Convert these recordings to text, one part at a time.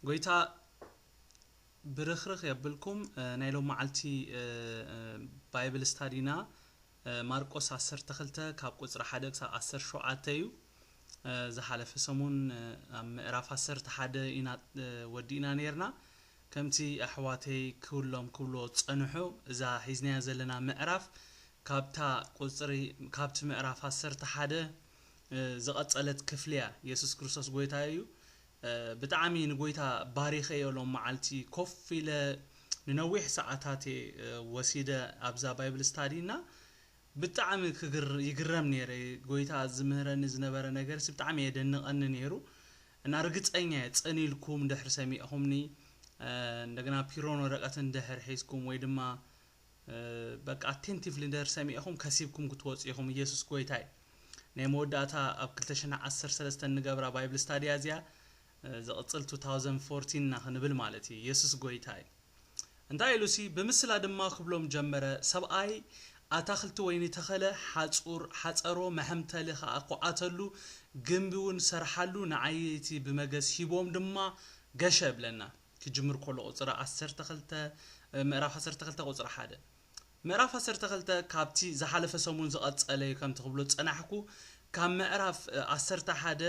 ጎይታ ብርኽርኽ የብልኩም ናይ ሎማዓልቲ ባይብል ስታዲና ማርቆስ ዓሰርተ ክልተ ካብ ቁጽሪ ሓደ ክሳብ ዓሰርተ ሸውዓተ እዩ ዝሓለፈ ሰሙን ኣብ ምዕራፍ ዓሰርተ ሓደ ኢና ወዲእና ነርና ከምቲ ኣሕዋተይ ክብሎም ክብልዎ ዝጸንሑ እዛ ሒዝናያ ዘለና ምዕራፍ ካብታ ቁጽሪ ካብቲ ምዕራፍ ዓሰርተ ሓደ ዝቐጸለት ክፍሊ እያ የሱስ ክርስቶስ ጎይታ እዩ ብጣዕሚ ንጎይታ ባሪኸዮ ሎም መዓልቲ ኮፍ ኢለ ንነዊሕ ሰዓታት እየ ወሲደ ኣብዛ ባይብል ስታዲ እና ብጣዕሚ ይግረም ነይረ ጎይታ ዝምህረኒ ዝነበረ ነገርሲ ብጣዕሚ የደንቐኒ ነይሩ እና ርግፀኛ እየ ፅን ኢልኩም ድሕሪ ሰሚዕኹምኒ እንደገና ፒሮን ወረቀትን ድሕር ሒዝኩም ወይ ድማ በቃ ኣቴንቲቭሊ እንድህር ሰሚዕኹም ከሲብኩም ክትወፁ ኢኹም ኢየሱስ ጎይታ እዩ ናይ መወዳእታ ኣብ 213 ንገብራ ባይብል ስታድያ እዚኣ ዝቕፅል 2014 እና ክንብል ማለት እዩ ኢየሱስ ጎይታ እዩ እንታይ ኢሉ ሲ ብምስላ ድማ ክብሎም ጀመረ ሰብኣይ ኣታክልቲ ወይኒ ተኸለ ሓፁር ሓፀሮ መሐምተሊ ከዓ ኮዓተሉ ግንቢ እውን ሰርሓሉ ንዓየይቲ ብመገስ ሂቦም ድማ ገሸ ብለና ክጅምር ከሎ ቁጽሪ ዓሰርተ ክልተ ምዕራፍ ዓሰርተ ክልተ ቁጽሪ ሓደ ምዕራፍ ዓሰርተ ክልተ ካብቲ ዝሓለፈ ሰሙን ዝቐጸለ እዩ ከምቲ ክብሎ ዝጸናሕኩ ካብ ምዕራፍ ዓሰርተ ሓደ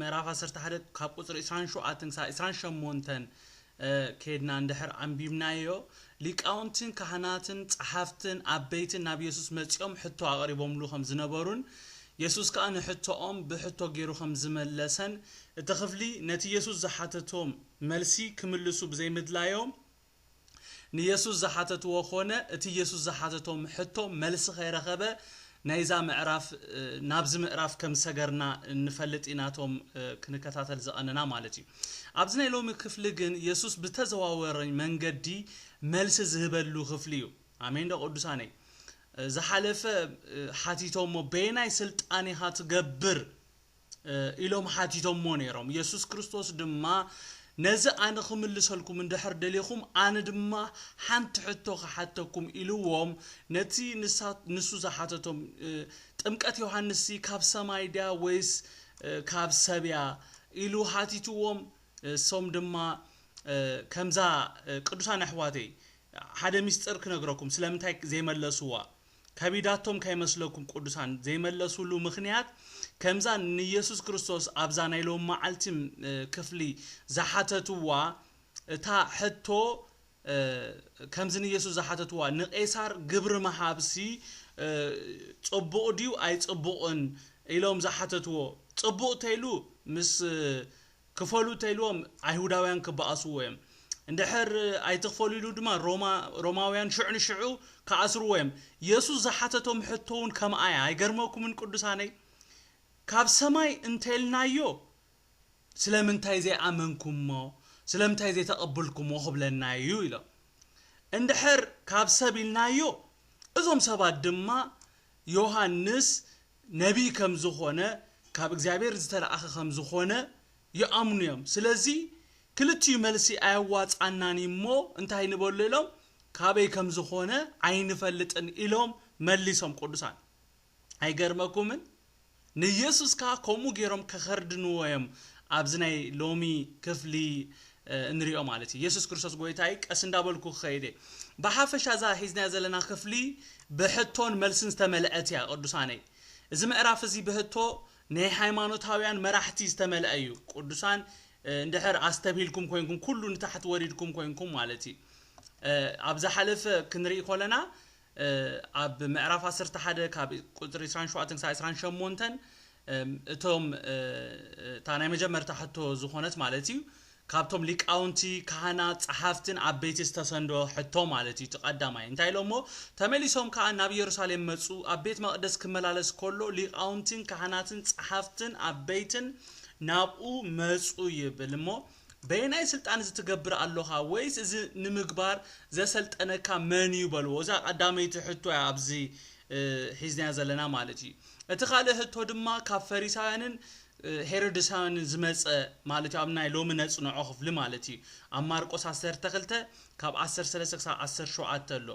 ምዕራፍ ዓሰርተ ሓደ ካብ ቁጽሪ ዕስራን ሸውዓተን ክሳብ ዕስራን ሸሞንተን ከድና እንድሕር ኣንቢብናዮ ሊቃውንትን ካህናትን ጸሓፍትን ዓበይትን ናብ የሱስ መጺኦም ሕቶ ኣቕሪቦምሉ ከም ዝነበሩን የሱስ ከኣ ንሕቶኦም ብሕቶ ገይሩ ኸም ዝመለሰን እቲ ኽፍሊ ነቲ የሱስ ዝሓተቶም መልሲ ክምልሱ ብዘይምድላዮም ንየሱስ ዝሓተትዎ ዀነ እቲ የሱስ ዝሓተቶም ሕቶ መልሲ ኸይረኸበ ናይዛ ምዕራፍ ናብዚ ምእራፍ ከም ሰገርና ንፈልጥ ኢና እቶም ክንከታተል ዝቐነና ማለት እዩ ኣብዚ ናይ ሎሚ ክፍሊ ግን የሱስ ብተዘዋወሪ መንገዲ መልሲ ዝህበሉ ኽፍሊ እዩ ኣሜን ዶ ቅዱሳነይ ዝሓለፈ ሓቲቶሞ በየናይ ስልጣን ኢኻ ትገብር ኢሎም ሓቲቶሞ ነይሮም የሱስ ክርስቶስ ድማ ነዚ ኣነ ክምልሰልኩም እንድሕር ደሊኹም ኣነ ድማ ሓንቲ ሕቶ ክሓተኩም ኢልዎም ነቲ ንሱ ዝሓተቶም ጥምቀት ዮሃንስሲ ካብ ሰማይ ድያ ወይስ ካብ ሰብያ ኢሉ ሓቲትዎም እሶም ድማ ከምዛ ቅዱሳን ኣሕዋተይ ሓደ ሚስጥር ክነግረኩም ስለምንታይ ዘይመለስዋ ከቢዳቶም ከይመስለኩም ቁዱሳን ዘይመለስሉ ምክንያት ከምዛ ንየሱስ ክርስቶስ ኣብዛ ናይ ሎምዓልቲ ክፍሊ ዝሓተትዋ እታ ሕቶ ከምዚ ንየሱስ ዝሓተትዋ ንቄሳር ግብሪ ምሃብሲ ጽቡቅ ድዩ ኣይጽቡቅን ኢሎም ዝሓተትዎ ጽቡቅ ተይሉ ምስ ክፈሉ እተኢልዎም ኣይሁዳውያን ክበኣስዎ እዮም፣ እንድሕር ኣይትኽፈሉ ኢሉ ድማ ሮማ ሮማውያን ሽዑ ንሽዑ ክኣስርዎ እዮም። የሱስ ዝሓተቶም ሕቶ ውን ከምኣ እያ ኣይገርመኩምን ቅዱሳነይ ካብ ሰማይ እንተኢልናዮ ስለምንታይ ዘይኣመንኩሞ ስለምንታይ ዘይተቐብልኩሞ ክብለና እዩ ኢሎም እንድሕር ካብ ሰብ ኢልናዮ እዞም ሰባት ድማ ዮሃንስ ነቢይ ከም ዝኾነ ካብ እግዚኣብሔር ዝተለኣኸ ከም ዝኾነ ይኣምኑ እዮም ስለዚ ክልቲኡ መልሲ ኣየዋጽኣናን እዩ እሞ እንታይ ንበሎ ኢሎም ካበይ ከም ዝኾነ ኣይንፈልጥን ኢሎም መሊሶም ቅዱሳን ኣይገርመኩምን ንየሱስ ከኣ ከምኡ ጌሮም ከኸርድንዎ እዮም ኣብዚ ናይ ሎሚ ክፍሊ እንሪኦ ማለት እዩ የሱስ ክርስቶስ ጎይታ እዩ ቀስ እንዳበልኩ ክኸይድ እየ ብሓፈሻ እዛ ሒዝናያ ዘለና ክፍሊ ብሕቶን መልስን ዝተመልአት እያ ቅዱሳነይ እዚ ምዕራፍ እዚ ብህቶ ናይ ሃይማኖታውያን መራሕቲ ዝተመልአ እዩ ቅዱሳን እንድሕር ኣስተብሂልኩም ኮይንኩም ኩሉ ንታሕቲ ወሪድኩም ኮይንኩም ማለት እዩ ኣብ ዝሓለፈ ክንርኢ ኮለና ኣብ ምዕራፍ ዓሰርተ ሓደ ካብ ቁጽሪ ዕስራን ሸውዓተን ክሳዕ ዕስራን ሸሞንተን እቶም እታ ናይ መጀመርታ ሕቶ ዝኾነት ማለት እዩ ካብቶም ሊቃውንቲ ካህናት ጸሓፍትን ዓበይቲ ዝተሰንዶ ሕቶ ማለት እዩ እቲ ቀዳማይ እንታይ ኢሎሞ ተመሊሶም ከኣ ናብ ኢየሩሳሌም መጹ ኣብ ቤት መቅደስ ክመላለስ ከሎ ሊቃውንትን ካህናትን ጸሓፍትን ዓበይትን ናብኡ መጹ ይብል እሞ በየናይ ስልጣን እዚ ትገብር ኣሎኻ ወይስ እዚ ንምግባር ዘሰልጠነካ መን እዩ በልዎ እዛ ቀዳመይቲ ሕቶ እያ ኣብዚ ሒዝናዮ ዘለና ማለት እዩ እቲ ካልእ ህቶ ድማ ካብ ፈሪሳውያንን ሄሮድሳውያንን ዝመጸ ማለት እዩ ኣብ ናይ ሎሚ ነጽንዖ ክፍሊ ማለት እዩ ኣብ ማርቆስ 12 ካብ 13 ክሳብ 17 ኣሎ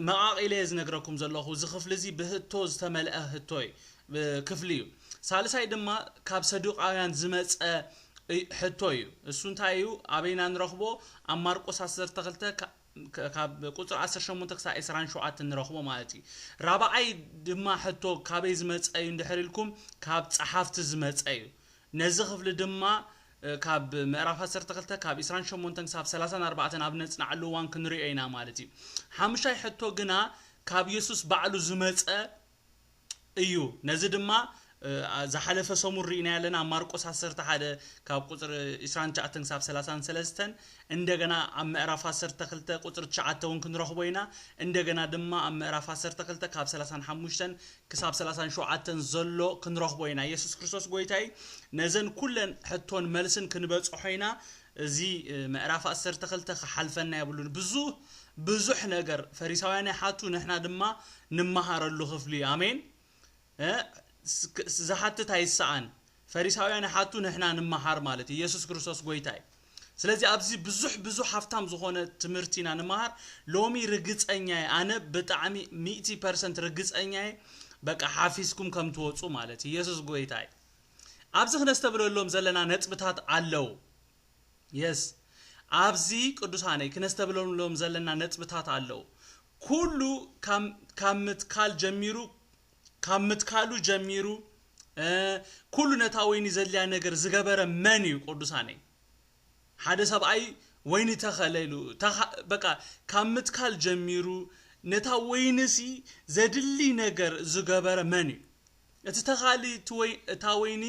መቓቒለ እየ ዝነግረኩም ዘለኹ። እዚ ክፍሊ እዚ ብህቶ ዝተመልአ ህቶ ክፍሊ እዩ። ሳልሳይ ድማ ካብ ሰዱቃውያን ዝመጸ ሕቶ እዩ። እሱ እንታይ እዩ? ኣበይና ንረኽቦ? ኣብ ማርቆስ ዓሰርተ ክልተ ካብ ቁፅሪ ዓሰርተ ሸሞንተ ክሳብ ዕስራን ሸውዓተን ንረኽቦ ማለት እዩ። ራብዓይ ድማ ሕቶ ካበይ ዝመጸ እዩ እንድሕር ኢልኩም ካብ ጸሓፍቲ ዝመጸ እዩ። ነዚ ክፍሊ ድማ ካብ ምዕራፍ ዓሰርተ ክልተ ካብ ዕስራን ሸሞንተን ክሳብ ሰላሳን ኣርባዕተን ኣብ ነጽንዓሉ እዋን ክንርእዮ ኢና ማለት እዩ። ሓሙሻይ ሕቶ ግና ካብ የሱስ ባዕሉ ዝመጸ እዩ። ነዚ ድማ ዝሓለፈ ሰሙን ርኢናዮ ኣለና ኣብ ማርቆስ ዓሰርተ ሓደ ካብ ቁጽሪ ዕስራን ትሽዓተን ክሳብ ሰላሳን ሰለስተን፣ እንደገና ኣብ ምዕራፍ ዓሰርተ ክልተ ቁጽሪ ትሽዓተ እውን ክንረኽቦ ኢና፣ እንደገና ድማ ኣብ ምዕራፍ ዓሰርተ ክልተ ካብ ሰላሳን ሓሙሽተን ክሳብ ሰላሳን ሸውዓተን ዘሎ ክንረኽቦ ኢና የሱስ ክርስቶስ ጎይታ እዩ ነዘን ኩለን ሕቶን መልስን ክንበጽሖ ኢና እዚ ምዕራፍ ዓሰርተ ክልተ ክሓልፈና የብሉን ብዙህ ብዙሕ ነገር ፈሪሳውያን ይሓቱ ንሕና ድማ ንመሃረሉ ክፍሊ እዩ ኣሜን እ ስ- ክ- ዝሓትት ኣይሰኣን ፈሪሳውያን ይሓቱ ንሕና ንማሃር ማለት እዩ የሱስ ክርስቶስ ጎይታ እዩ ስለዚ ኣብዚ ብዙሕ ብዙሕ ሃፍታም ዝኾነ ትምህርቲ ኢና ንማሃር ሎሚ ርግጸኛ እየ ኣነ ብጣዕሚ ሚእቲ ፐርሰንት ርግጸኛ እየ በቃ ሓፊዝኩም ከም ትወጹ ማለት እዩ የሱስ ጎይታ እዩ ኣብዚ ክነስተብለሎም ዘለና ነጥብታት ኣለው የስ ኣብዚ ቅዱሳነይ ክነስተብለሎም ዘለና ነጥብታት ኣለው ኩሉ ካብ ምትካል ጀሚሩ ካብ ምትካሉ ጀሚሩ ኩሉ ነታ ወይኒ ዘድልያ ነገር ዝገበረ መን እዩ ቅዱሳነይ ሓደ ሰብኣይ ወይኒ ተኸለ ኢሉ በቃ ካብ ምትካል ጀሚሩ ነታ ወይንሲ ዘድሊ ነገር ዝገበረ መን እዩ እቲ ተኻሊ እታ ወይኒ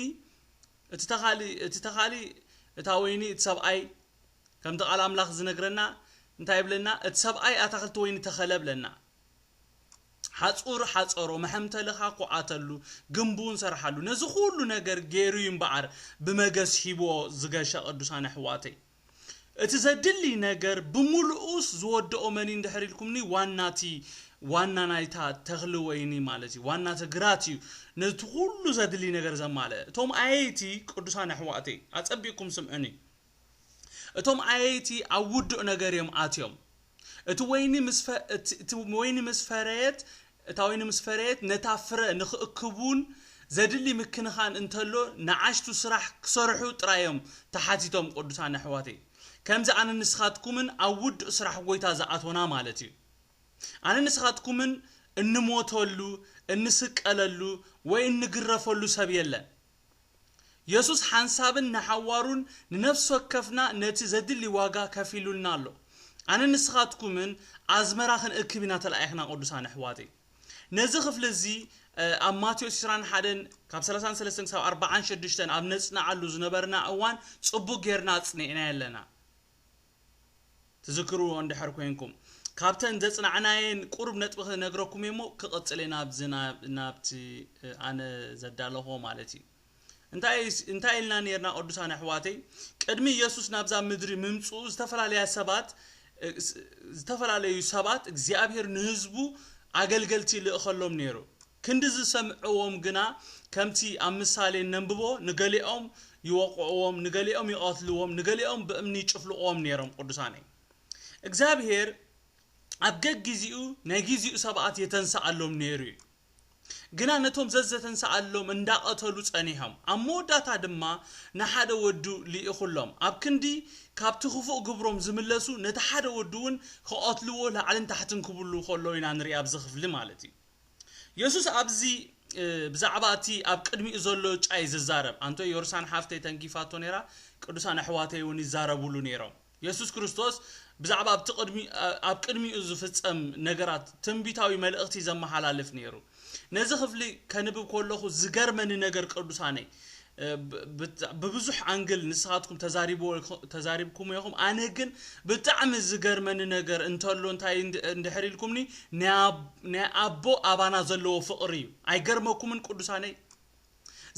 እቲ ተኻሊ እቲ ተኻሊ እታ ወይኒ እቲ ሰብኣይ ከምቲ ቃል ኣምላኽ ዝነግረና እንታይ ብለና እቲ ሰብኣይ ኣታክልቲ ወይኒ ተኸለ ብለና ሓጹር ሓጸሮ፣ መሐምተልኻ ኩዓተሉ፣ ግምብውን ሰርሓሉ፣ ነዚ ኩሉ ነገር ገይሩ እዩ እምበኣር ብመገስ ሂብዎ ዝገሸ ቅዱሳን ኣሕዋተይ። እቲ ዘድሊ ነገር ብምሉኡስ ዝወደኦ መን እዩ እንድሕር ኢልኩምኒ ዋና እቲ ዋና ናይታ ተኽሊ ወይኒ ማለት እዩ ዋና እቲ ግራት እዩ ነቲ ኩሉ ዘድሊ ነገር ዘማልእ። እቶም ኣየይቲ ቅዱሳን ኣሕዋተይ ኣጸቢቕኩም ስምዑኒ። እቶም ኣየይቲ ኣብ ውዱእ ነገር እዮም ኣትዮም። እቲ ወይኒ ምስ ፈ፣ እቲ እቲ ወይኒ ምስ ፈረየት፣ እታ ወይኒ ምስ ፈረየት፣ ነታ ፍረ ንኽእክቡን ዘድሊ ምክንኻን እንተሎ ንኣሽቱ ስራሕ ክሰርሑ ጥራይ እዮም ተሓቲቶም ቅዱሳን ኣሕዋተይ። ከምዚ ኣነን ንስኻትኩምን ኣብ ውዱእ ስራሕ ጐይታ ዝኣቶና ማለት እዩ። ኣነን ንስኻትኩምን እንሞተሉ፣ እንስቀለሉ ወይ እንግረፈሉ ሰብ የለን። የሱስ ሓንሳብን ንሓዋሩን ንነፍሲ ወከፍና ነቲ ዘድሊ ዋጋ ከፊሉልና ኣሎ። ኣነን ንስኻትኩምን ኣዝመራ ክንእክብ ኢና ተላኢኽና ቅዱሳን ኣሕዋተይ። ነዚ ክፍሊ እዚ ኣብ ማቴዎስ ዕስራን ሓደን ካብ ሰላሳን ሰለስተን ክሳብ ኣርብዓን ሸዱሽተን ኣብ ነጽንዓሉ ዝነበርና እዋን ጽቡቕ ጌርና ኣጽኒዕናዮ ኣለና። ትዝክርዎ እንድሕር ኮይንኩም ካብተን ዘጽናዕናየን ቁሩብ ነጥቢ ክነግረኩም እየ እሞ ክቕጽል እየ ናብዚ ናብቲ ኣነ ዘዳለኹዎ ማለት እዩ እንታይ እንታይ ኢልና ነርና ቅዱሳን ኣሕዋተይ ቅድሚ ኢየሱስ ናብዛ ምድሪ ምምጽኡ ዝተፈላለያ ሰባት ዝተፈላለዩ ሰባት እግዚኣብሔር ንህዝቡ ኣገልገልቲ ይልእኸሎም ነይሩ ክንዲ ዝሰምዕዎም ግና ከምቲ ኣብ ምሳሌ ነንብቦ ንገሊኦም ይወቕዕዎም ንገሊኦም ይቐትልዎም ንገሊኦም ብእምኒ ይጭፍልቕዎም ኔሮም ቁዱሳነይ እግዚኣብሄር ኣብ ገጊዚኡ ናይ ጊዚኡ ሰብኣት የተንስኣሎም ኔሩ እዩ ግና ነቶም ዘዘተንስኣሎም እንዳቐተሉ ጸኒሖም ኣብ መወዳታ ድማ ንሓደ ወዱ ሊኢኹሎም ኣብ ክንዲ ካብቲ ክፉእ ግብሮም ዝምለሱ ነቲ ሓደ ወዱ ውን ክቐትልዎ ላዕልን ታሕትን ክብሉ ከለዉ ኢና ንሪኢ ኣብዚ ክፍሊ ማለት እዩ የሱስ ኣብዚ ብዛዕባ እቲ ኣብ ቅድሚኡ ዘሎ እጫ እዩ ዝዛረብ። ኣንቶ ዮርሳን ሓፍተይ ተንኪፋቶ ነይራ፣ ቅዱሳን ኣሕዋተይ እውን ይዛረቡሉ ነይሮም። የሱስ ክርስቶስ ብዛዕባ ኣብቲ ቅድሚ ኣብ ቅድሚኡ ዝፍጸም ነገራት ትንቢታዊ መልእኽቲ ዘመሓላልፍ ነይሩ። ነዚ ክፍሊ ከንብብ ከለኹ ዝገርመኒ ነገር ቅዱሳነይ ብብዙሕ ኣንግል ንስኻትኩም ተዛሪብዎ ተዛሪብኩሞ ኢኹም ኣነ ግን ብጣዕሚ ዝገርመኒ ነገር እንተሎ እንታይ እንድሕር ኢልኩምኒ ናይ ኣቦ ኣባና ዘለዎ ፍቕሪ እዩ ኣይገርመኩምን ቅዱሳነይ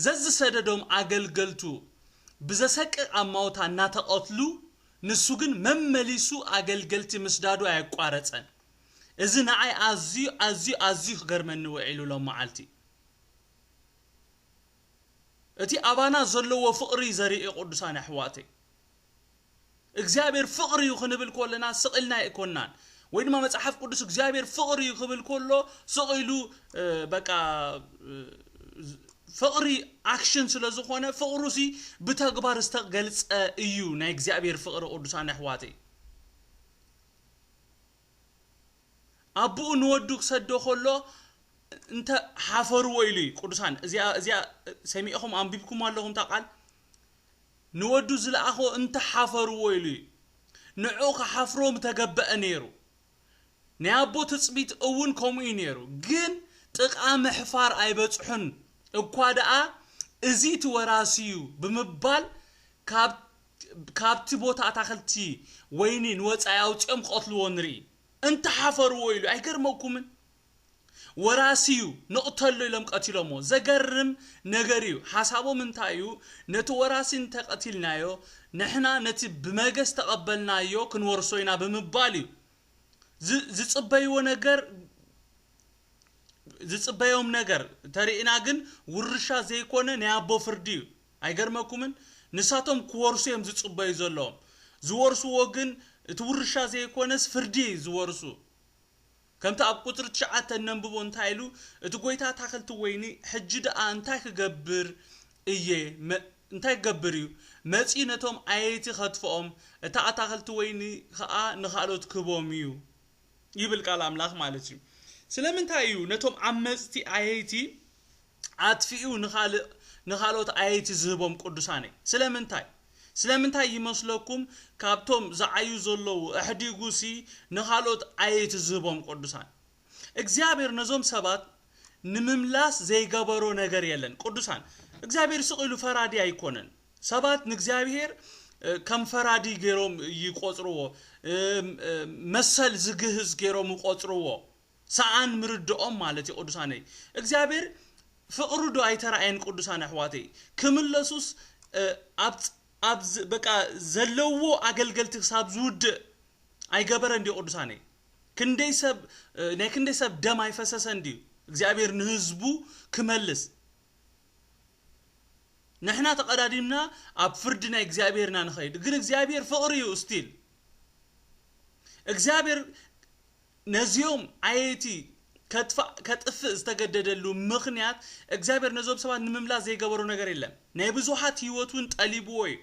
ዘዝሰደዶም ኣገልገልቱ ብዘሰቅቕ ኣማውታ እናተቐትሉ ንሱ ግን መመሊሱ ኣገልገልቲ ምስዳዱ ኣየቋረጸን እዚ ንዓይ ኣዝዩ ኣዝዩ ኣዝዩ ክገርመኒ ውዒሉ ሎም መዓልቲ እቲ ኣባና ዘለዎ ፍቅሪ እዩ ዘርኢ ቁዱሳን ኣሕዋተይ እግዚኣብሔር ፍቅሪ እዩ ክንብል ኮለና ስቅ ኢልና ኣይኮናን ወይ ድማ መጽሓፍ ቅዱስ እግዚኣብሔር ፍቅሪ እዩ ክብል ኮሎ ስቅ ኢሉ በቃ ፍቅሪ ኣክሽን ስለ ዝኾነ ፍቅሩ ሲ ብተግባር ዝተገልጸ እዩ ናይ እግዚኣብሔር ፍቅሪ ቁዱሳን ኣሕዋተይ ኣቡኡ ንወዱ ክሰዶ ከሎ እንተ ሓፈርዎ ኢሉ እዩ ቅዱሳን እዚኣ እዚኣ ሰሚዕኹም ኣንቢብኩማ ኣለኹም እታ ቃል ንወዱ ዝለኣኾ እንተ ሓፈርዎ ኢሉ እዩ ንዕኡ ክሓፍሮ ምተገበአ ነይሩ ናይ ኣቦ ትጽቢት እውን ከምኡ እዩ ነይሩ ግን ጥቃ ምሕፋር ኣይበጽሑን እኳ ደኣ እዚ እቲ ወራሲ እዩ ብምባል ካብ ካብቲ ቦታ ኣታኽልቲ ወይኒ ንወጻኢ ኣውጺኦም ክቐትልዎ ንርኢ። እንተ ሓፈርዎ ኢሉ ኣይገርመኩምን? ወራሲ እዩ ንቕተሎ ኢሎም ቀቲሎሞ። ዘገርም ነገር እዩ ሓሳቦም እንታይ እዩ ነቲ ወራሲ እንተ ቀቲልናዮ ንሕና ነቲ ብመገስ ዝተቐበልናዮ ክንወርሶ ኢና ብምባል እዩ። ዝ ዝጽበይዎ ነገር ዝጽበዮም ነገር ተሪእና ግን ውርሻ ዘይኮነ ናይ ኣቦ ፍርዲ እዩ። ኣይገርመኩምን ንሳቶም ክወርሱ እዮም ዝጽበዩ ዘለዎም ዝወርስዎ ግን እቲ ውርሻ ዘይኮነስ ፍርዲ እዩ ዝወርሱ ከምቲ ኣብ ቁጽሪ ትሽዓተ እነንብቦ እንታይ ኢሉ እቲ ጎይታ ኣታክልቲ ወይኒ ሕጂ ድኣ እንታይ ክገብር እየ እንታይ ክገብር እዩ መጽዩ ነቶም ኣየይቲ ከትፍኦም እታ ኣታክልቲ ወይኒ ከኣ ንካልኦት ክህቦም እዩ ይብል ቃል ኣምላኽ ማለት እዩ። ስለምንታይ እዩ ነቶም ዓመጽቲ ኣየይቲ ኣጥፊኡ ንኻልእ ንኻልኦት ኣየይቲ ዝህቦም ቅዱሳነይ? ስለምንታይ? ስለምንታይ ይመስለኩም ካብቶም ዝዓዩ ዘለዉ ኣሕዲጉሲ ንኻልኦት ኣየይቲ ዝህቦም ቅዱሳን? እግዚኣብሔር ነዞም ሰባት ንምምላስ ዘይገበሮ ነገር የለን። ቅዱሳን እግዚኣብሔር ስቕ ኢሉ ፈራዲ ኣይኮነን። ሰባት ንእግዚኣብሄር ከም ፈራዲ ገይሮም ይቆጽርዎ፣ መሰል ዝግህስ ገይሮም ይቆጽርዎ፣ ሰኣን ምርድኦም ማለት እዩ ቅዱሳነይ። እግዚኣብሄር ፍቅሩ ዶ ኣይተራእየን ቅዱሳን ኣሕዋተይ? ክምለሱስ ኣብ በቃ ዘለዎ ኣገልገልቲ ክሳብ ዝውድእ ኣይገበረን ድዩ ቅዱሳነይ? ክንደይ ሰብ ናይ ክንደይ ሰብ ደም ኣይፈሰሰን ድዩ እግዚኣብሄር ንህዝቡ ክመልስ? ንሕና ተቀዳዲምና ኣብ ፍርዲ ናይ እግዚኣብሔር ኢና ንኸይድ ግን እግዚኣብሔር ፍቅሪ እዩ still እግዚኣብሔር ነዚኦም ዓየይቲ ከጥፋእ ከጥፍእ ዝተገደደሉ ምኽንያት እግዚኣብሔር ነዞም ሰባት ንምምላስ ዘይገበሮ ነገር የለን ናይ ብዙሓት ህይወት እውን ጠሊብዎ እዩ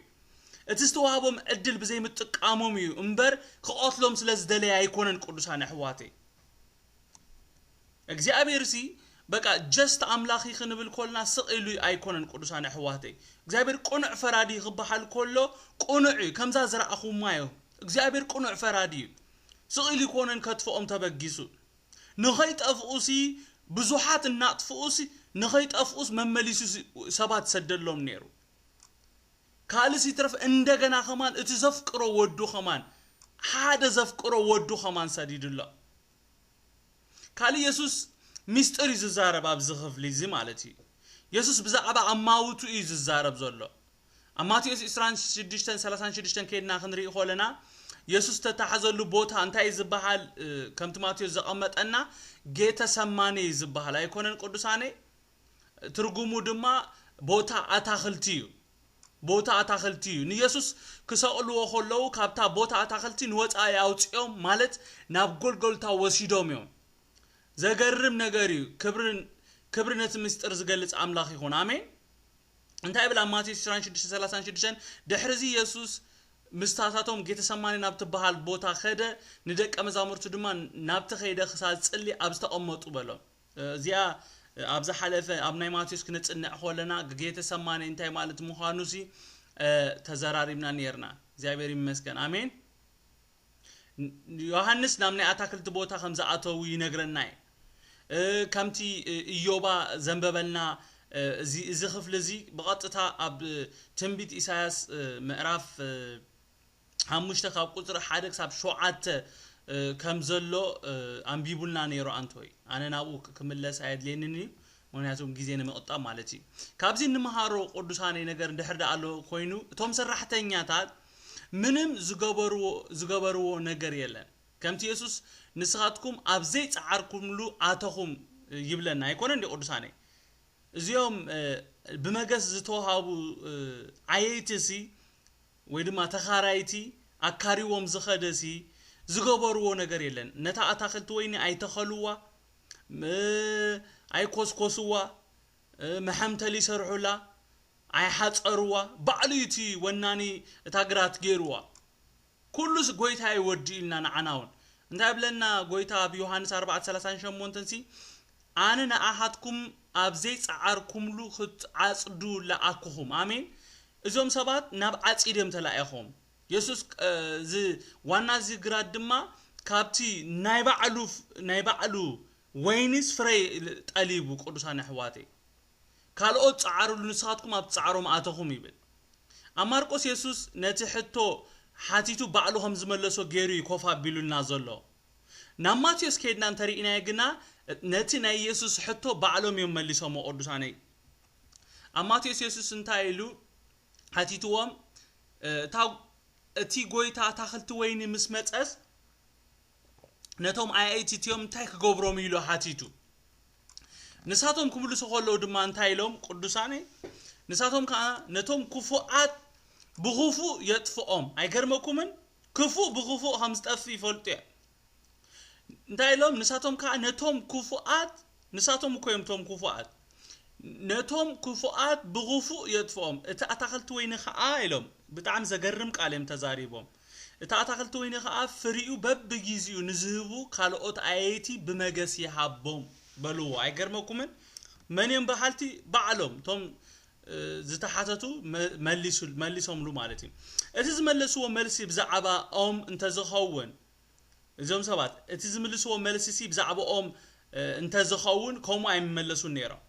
እቲ ዝተዋህቦም ዕድል ብዘይምጥቃሞም እዩ እምበር ክቐትሎም ስለ ዝደለየ ኣይኮነን ቅዱሳን ኣሕዋተይ እግዚኣብሔር ሲ በቃ ጀስት ኣምላክ ዩ ክንብል ኮልና ስቅ ኢሉ ኣይኮነን ቅዱሳን ኣሕዋተይ እግዚኣብሔር ቅኑዕ ፈራዲ ዩ ክባሓል ኮሎ ቅኑዕ ዩ ከምዛ ዝራኣኩማ ዩ እግዚኣብሔር ቅኑዕ ፈራዲ ዩ ስቅ ኢሉ ኣይኮነን ከትፎኦም ተበጊሱ ንከይጠፍኡ ሲ ብዙሓት እናጥፍኡስ ንከይጠፍኡስ መመሊሱ ሰባት ይሰደሎም ነይሩ ካልእስ ይትረፍ እንደገና ከማን እቲ ዘፍቅሮ ወዱ ከማን ሓደ ዘፍቅሮ ወዱ ከማን ሰዲድሎ ካልእ የሱስ ሚስጥር እዩ ዝዛረብ ኣብዚ ክፍሊ እዚ ማለት እዩ የሱስ ብዛዕባ ኣማውቱ እዩ ዝዛረብ ዘሎ ኣብ ማቴዎስ ዕስራን ሽዱሽተን ሰላሳን ሽዱሽተን ከድና ክንርኢ ኮለና የሱስ ተታሕዘሉ ቦታ እንታይ ዝበሃል ከምቲ ማቴዎስ ዘቐመጠና ጌተ ሰማኔ ዝበሃል ኣይኮነን ቅዱሳነይ ትርጉሙ ድማ ቦታ ኣታኽልቲ እዩ። ቦታ ኣታኽልቲ እዩ። ንየሱስ ክሰቕልዎ ከለዉ ካብታ ቦታ ኣታኽልቲ ንወጻኢ ኣውጺኦም ማለት ናብ ጎልጎልታ ወሲዶም እዮም። ዘገርም ነገር እዩ። ክብሪ ክብሪ ነቲ ምስጢር ዝገልጽ ኣምላኽ ይኹን። ኣሜን። እንታይ ይብል ኣብ ማቴዎስ 26:36 ድሕርዚ የሱስ ምስታታቶም ጌተሰማኒ ናብ ትበሃል ቦታ ከደ ንደቀ መዛሙርቱ ድማ ናብቲ ከይደ ክሳብ ዝጽሊ ኣብ ዝተቐመጡ በሎም። እዚኣ ኣብ ዝሓለፈ ኣብ ናይ ማቴዎስ ክነጽንዕ ኮለና ጌተሰማኒ እንታይ ማለት ምዃኑሲ ተዘራሪብና ኔርና እግዚኣብሔር ይመስገን ኣሜን ዮሃንስ ናብ ናይ ኣታክልቲ ቦታ ከም ዝኣተዉ ይነግረና እዩ ከምቲ ኢዮባ ዘንበበልና እዚ ክፍሊ እዚ ብቐጥታ ኣብ ትንቢት ኢሳያስ ምዕራፍ ሓሙሽተ ካብ ቁጽሪ ሓደ ክሳብ ሸውዓተ ከም ዘሎ ኣንቢቡልና ነይሩ ኣንቶይ ኣነ ናብኡ ክምለስ ኣየድልየንን እዩ ምክንያቱ ግዜ ንምቕጣብ ማለት እዩ ካብዚ እንምሃሮ ቅዱሳነይ ነገር ድሕር ዳኣ ኣሎ ኮይኑ እቶም ሰራሕተኛታት ምንም ዝገበርዎ ዝገበርዎ ነገር የለን ከምቲ የሱስ ንስኻትኩም ኣብ ዘይጸዓርኩምሉ ኣተኹም ይብለና ኣይኮነን ዲ ቅዱሳነይ እዚኦም ብመገስ ዝተዋሃቡ ዓየይቲ ሲ ወይ ድማ ተኻራይቲ ኣካሪዎም ዝኸደ ሲ ዝገበርዎ ነገር የለን ነታ ኣታኽልቲ ወይኒ ኣይተኸልዋ ም ኣይኮስኮስዋ መሐምተሊ ይሰርሑላ ኣይሓጸርዋ ባዕሉ እዩ እቲ ወናኒ እታ ግራት ጌርዋ ኩሉስ ጎይታ እዩ ወዲኡልና ንዓና ውን እንታይ ይብለና ጎይታ ኣብ ዮሐንስ ኣርባዕተ ሰላሳን ሸሞንተን ሲ ኣነ ንኣኻትኩም ኣብ ዘይጸዓርኩምሉ ክትዓጽዱ ለኣኩኹም ኣሜን እዞም ሰባት ናብ ዓጺድ እዮም ተላኢኾም። የሱስ እዚ ዋና እዚ ግራት ድማ ካብቲ ናይ ባዕሉ ናይ ባዕሉ ወይኒስ ፍረ ጠሊቡ ቅዱሳን ኣሕዋተይ ካልኦት ጸዓሩሉ ንስኻትኩም ኣብቲ ጻዕሮም ኣተኹም ይብል። ኣብ ማርቆስ የሱስ ነቲ ሕቶ ሓቲቱ ባዕሉ ከም ዝመለሶ ገይሩ እዩ ኮፍ ኣቢሉልና ዘሎ። ናብ ማቴዎስ ከይድና እንተርኢናዮ ግና ነቲ ናይ የሱስ ሕቶ ባዕሎም እዮም መሊሶሞ ቅዱሳነይ። ኣብ ማቴዎስ የሱስ እንታይ ኢሉ ሓቲትዎም እታ እቲ ጎይታ ኣታኽልቲ ወይኒ ምስ መጸስ ነቶም ኣያይቲ እትዮም እንታይ ክገብሮም ኢሉ ሓቲቱ ንሳቶም ክምልሱ ከለዉ ድማ እንታይ ኢሎም ቅዱሳነ ንሳቶም ከዓ ነቶም ክፉኣት ብኽፉእ የጥፍኦም ኣይገርመኩምን ክፉእ ብኽፉእ ከም ዝጠፍእ ይፈልጡ እዮም እንታይ ኢሎም ንሳቶም ከኣ ነቶም ክፉኣት ንሳቶም እኮ እዮም እቶም ክፉኣት ነቶም ክፉኣት ብኽፉእ የጥፍኦም እቲ ኣታኽልቲ ወይኒ ከኣ ኢሎም ብጣዕሚ ዘገርም ቃል እዮም ተዛሪቦም እቲ ኣታኽልቲ ወይኒ ከኣ ፍሪኡ በብጊዜኡ ንዝህቡ ካልኦት ኣየይቲ ብመገስ ይሃቦም በልዎ ኣይገርመኩምን መን እዮም በሃልቲ ባዕሎም እቶም ዝተሓተቱ መሊሶምሉ ማለት እዩ። እቲ ዝመለስዎ መልሲ ብዛዕባ ኦም እንተዝኸውን እዞም ሰባት እቲ ዝምልስዎ መልሲሲ ብዛዕባኦም እንተዝኸውን ከምኡ ኣይምመለሱን ነይሮም።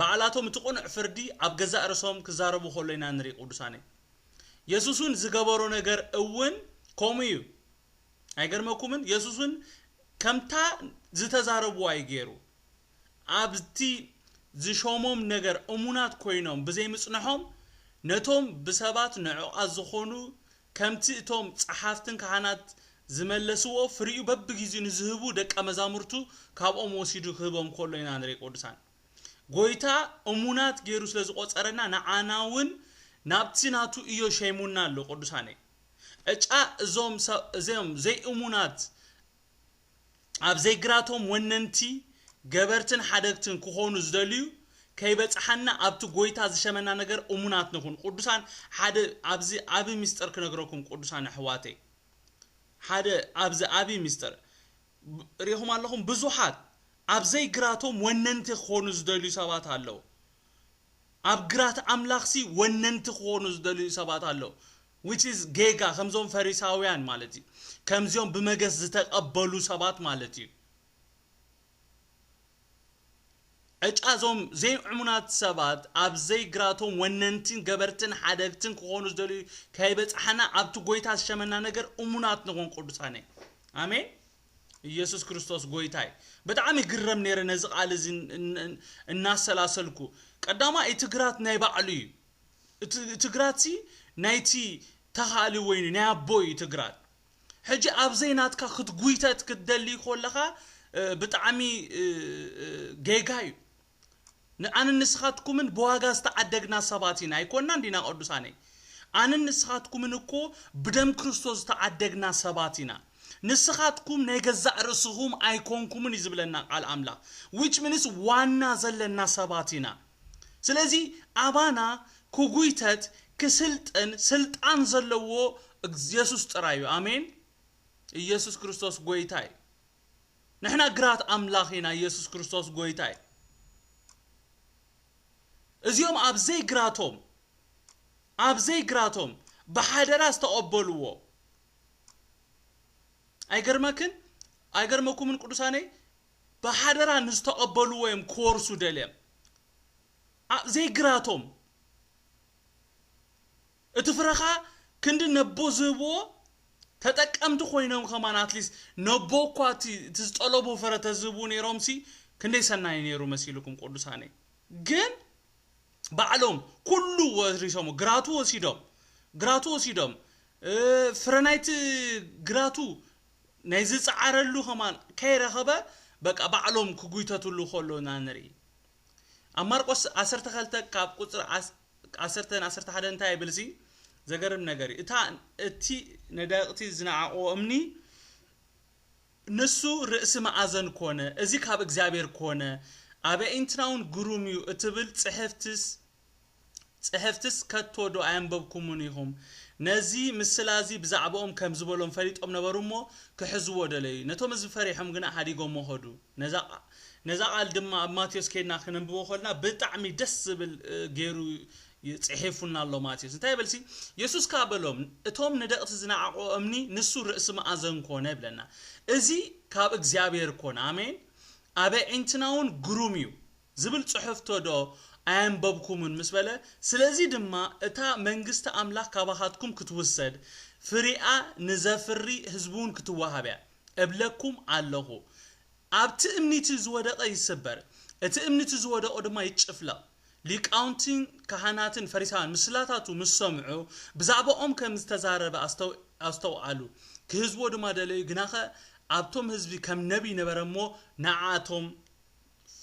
ባዕላቶም እቲ ቅኑዕ ፍርዲ ኣብ ገዛእ ርእሶም ክዛረቡ ከሎ ኢና ንርኢ ቅዱሳነይ። የሱስውን ዝገበሮ ነገር እውን ከምኡ እዩ። ኣይገርመኩምን የሱስ ውን ከምታ ዝተዛረብዋ እዩ ጌሩ ኣብቲ ዝሾሞም ነገር እሙናት ኮይኖም ብዘይ ምጽንሖም ነቶም ብሰባት ንዑቃት ዝኮኑ ከምቲ እቶም ጸሓፍትን ካህናት ዝመለስዎ ፍሪኡ በብጊዚኡ ንዝህቡ ደቀ መዛሙርቱ ካብኦም ወሲዱ ክህቦም ከሎ ኢና ንርኢ ቅዱሳን ጎይታ እሙናት ጌሩ ስለ ዝቆጸረና ንዓና ውን ናብቲ ናቱ እዮ ሸይሙና ኣሎ ቅዱሳነይ። ዕጫ እዞም እዚም ዘይእሙናት ኣብ ዘይግራቶም ወነንቲ ገበርትን ሓደግትን ክኾኑ ዝደልዩ ከይበጽሓና ኣብቲ ጎይታ ዝሸመና ነገር እሙናት ንኹን ቁዱሳን ሓደ ኣብዚ ዓቢ ምስጢር ክነግረኩም ቁዱሳን ኣሕዋተይ ሓደ ኣብዚ ዓቢ ምስጢር ብ- ሪኢኹም ኣለኹም ብዙሓት ኣብ ዘይግራቶም ወነንቲ ክኾኑ ዝደልዩ ሰባት ኣለዉ ኣብ ግራት ኣምላኽሲ ወነንቲ ክኾኑ ዝደልዩ ሰባት ኣለዉ which is ጌጋ ከምዞም ፈሪሳውያን ማለት እዩ ከምዚኦም ብመገስ ዝተቀበሉ ሰባት ማለት እዩ ዕጫ እዞም ዘይእሙናት ሰባት ኣብ ዘይግራቶም ወነንቲን ገበርትን ሓደግትን ክኾኑ ዝደልዩ ከይበጽሓና ኣብቲ ጎይታ ዝሸመና ነገር እሙናት ንኹን ቅዱሳነይ ኣሜን ኢየሱስ ክርስቶስ ጎይታ እዩ ብጣዕሚ ይግረም ነይረ ነዚ ቃል እዚ እናሰላሰልኩ ቀዳማ እቲ ግራት ናይ ባዕሉ እዩ እቲ ግራት ሲ ናይቲ ተኻሊ ወይኒ ናይ ኣቦ እዩ እቲ ግራት ሕጂ ኣብዘይ ናትካ ክትጉይተት ክትደሊ ኮለኻ ብጣዕሚ ጌጋ እዩ ንኣንን ንስኻትኩምን ብዋጋ ዝተዓደግና ሰባት ኢና፣ ኣይኮናን ዲና ቅዱሳነይ? ኣንን ንስኻትኩምን እኮ ብደም ክርስቶስ ዝተዓደግና ሰባት ኢና። ንስኻትኩም ናይ ገዛእ ርእስኹም ኣይኮንኩምን እዩ ዝብለና ቃል ኣምላኽ። which means ዋና ዘለና ሰባት ኢና። ስለዚ ኣባና ክጉይተት ክስልጥን ስልጣን ዘለዎ የሱስ ጥራይ እዩ። ኣሜን። ኢየሱስ ክርስቶስ ጎይታ እዩ። ንሕና ግራት ኣምላኽ ኢና ኢየሱስ ክርስቶስ ጎይታ እዩ እዚኦም ኣብ ዘይግራቶም ኣብ ዘይግራቶም ብሓደራ ዝተቐበልዎ ኣይገርመክን ኣይገርመኩምን ቅዱሳነይ ብሓደራ ንዝተቐበልዎ እዮም ክወርሱ ደልዮም ዘይግራቶም እቲ ፍረ ከኣ ክንዲ ነቦ ዝህብዎ ተጠቀምቲ ኮይኖም ከማን ኣትሊስ ነቦ እኳ እቲ እቲ ዝጠለብዎ ፍረ ተዝህብው ነይሮምሲ ክንደይ ሰናይ ነይሩ መሲልኩም ቁዱሳነይ ግን ባዕሎም ኩሉ ወሪሶሞ ግራቱ ወሲዶም ግራቱ ወሲዶም ፍረ ናይቲ ግራቱ ናይ ዝጸዓረሉ ከማን ከይረኸበ በቃ ባዕሎም ክጉይተትሉ ከሎ እና ንርኢ ኣብ ማርቆስ ዓሰርተ ከልተ ካብ ቁጽሪ ዓሰርተ ን ዓሰርተ ሓደን እንታይ ይብል እዚ ዘገርም ነገር እዩ እታ እቲ ነዳቅቲ ዝነዓቅዎ እምኒ ንሱ ርእሲ መኣዘን ኮነ እዚ ካብ እግዚኣብሔር ኮነ ኣበኢንትናውን ግሩም እዩ እትብል ጽሕፍትስ ጽሕፍትስ ከቶዶ ኣየንበብኩሙን ኢኹም? ነዚ ምስላ'ዚ ብዛዕባኦም ከም ዝበሎም ፈሊጦም ነበሩ እሞ፣ ክሕዝዎ ደለዩ። ነቶም ህዝቢ ፈሪሖም ግና ሓዲጎሞ ኸዱ። ነዛ ነዛ ቓል ድማ ኣብ ማቴዎስ ኬድና ክነንብቦ ከሎና ብጣዕሚ ደስ ዝብል ገይሩ ጽሒፉልና ኣሎ ማቴዎስ። እንታይ ይበልሲ፣ የሱስ ከኣ በሎም፣ እቶም ንደቕቲ ዝነዓቑዎ እምኒ ንሱ ርእሲ መኣዘን ኮነ ይብለና። እዚ ካብ እግዚኣብሄር ኮነ። ኣሜን። ኣብ ኣዒንትናውን ግሩም እዩ። ዝብል ጽሕፍቶ ዶ ኣየንበብኩምን ምስ በለ፣ ስለዚ ድማ እታ መንግስቲ ኣምላኽ ካባኻትኩም ክትውሰድ፣ ፍሬኣ ንዘፍሪ ህዝቢውን ክትወሃብ እያ፣ እብለኩም ኣሎኹ። ኣብቲ እምኒቲ ዝወደቐ ይስበር፣ እቲ እምኒቲ ዝወደቑ ድማ ይጭፍለቕ። ሊቃውንቲን ካህናትን ፈሪሳውያን ምስላታቱ ምስ ሰምዑ፣ ብዛዕባኦም ከም ዝተዛረበ ኣስተውኣሉ፣ ኪህዝዎ ድማ ደለዩ፣ ግናኸ ኣብቶም ህዝቢ ከም ነቢይ ነበረ እሞ፣ ንኣኣቶም፣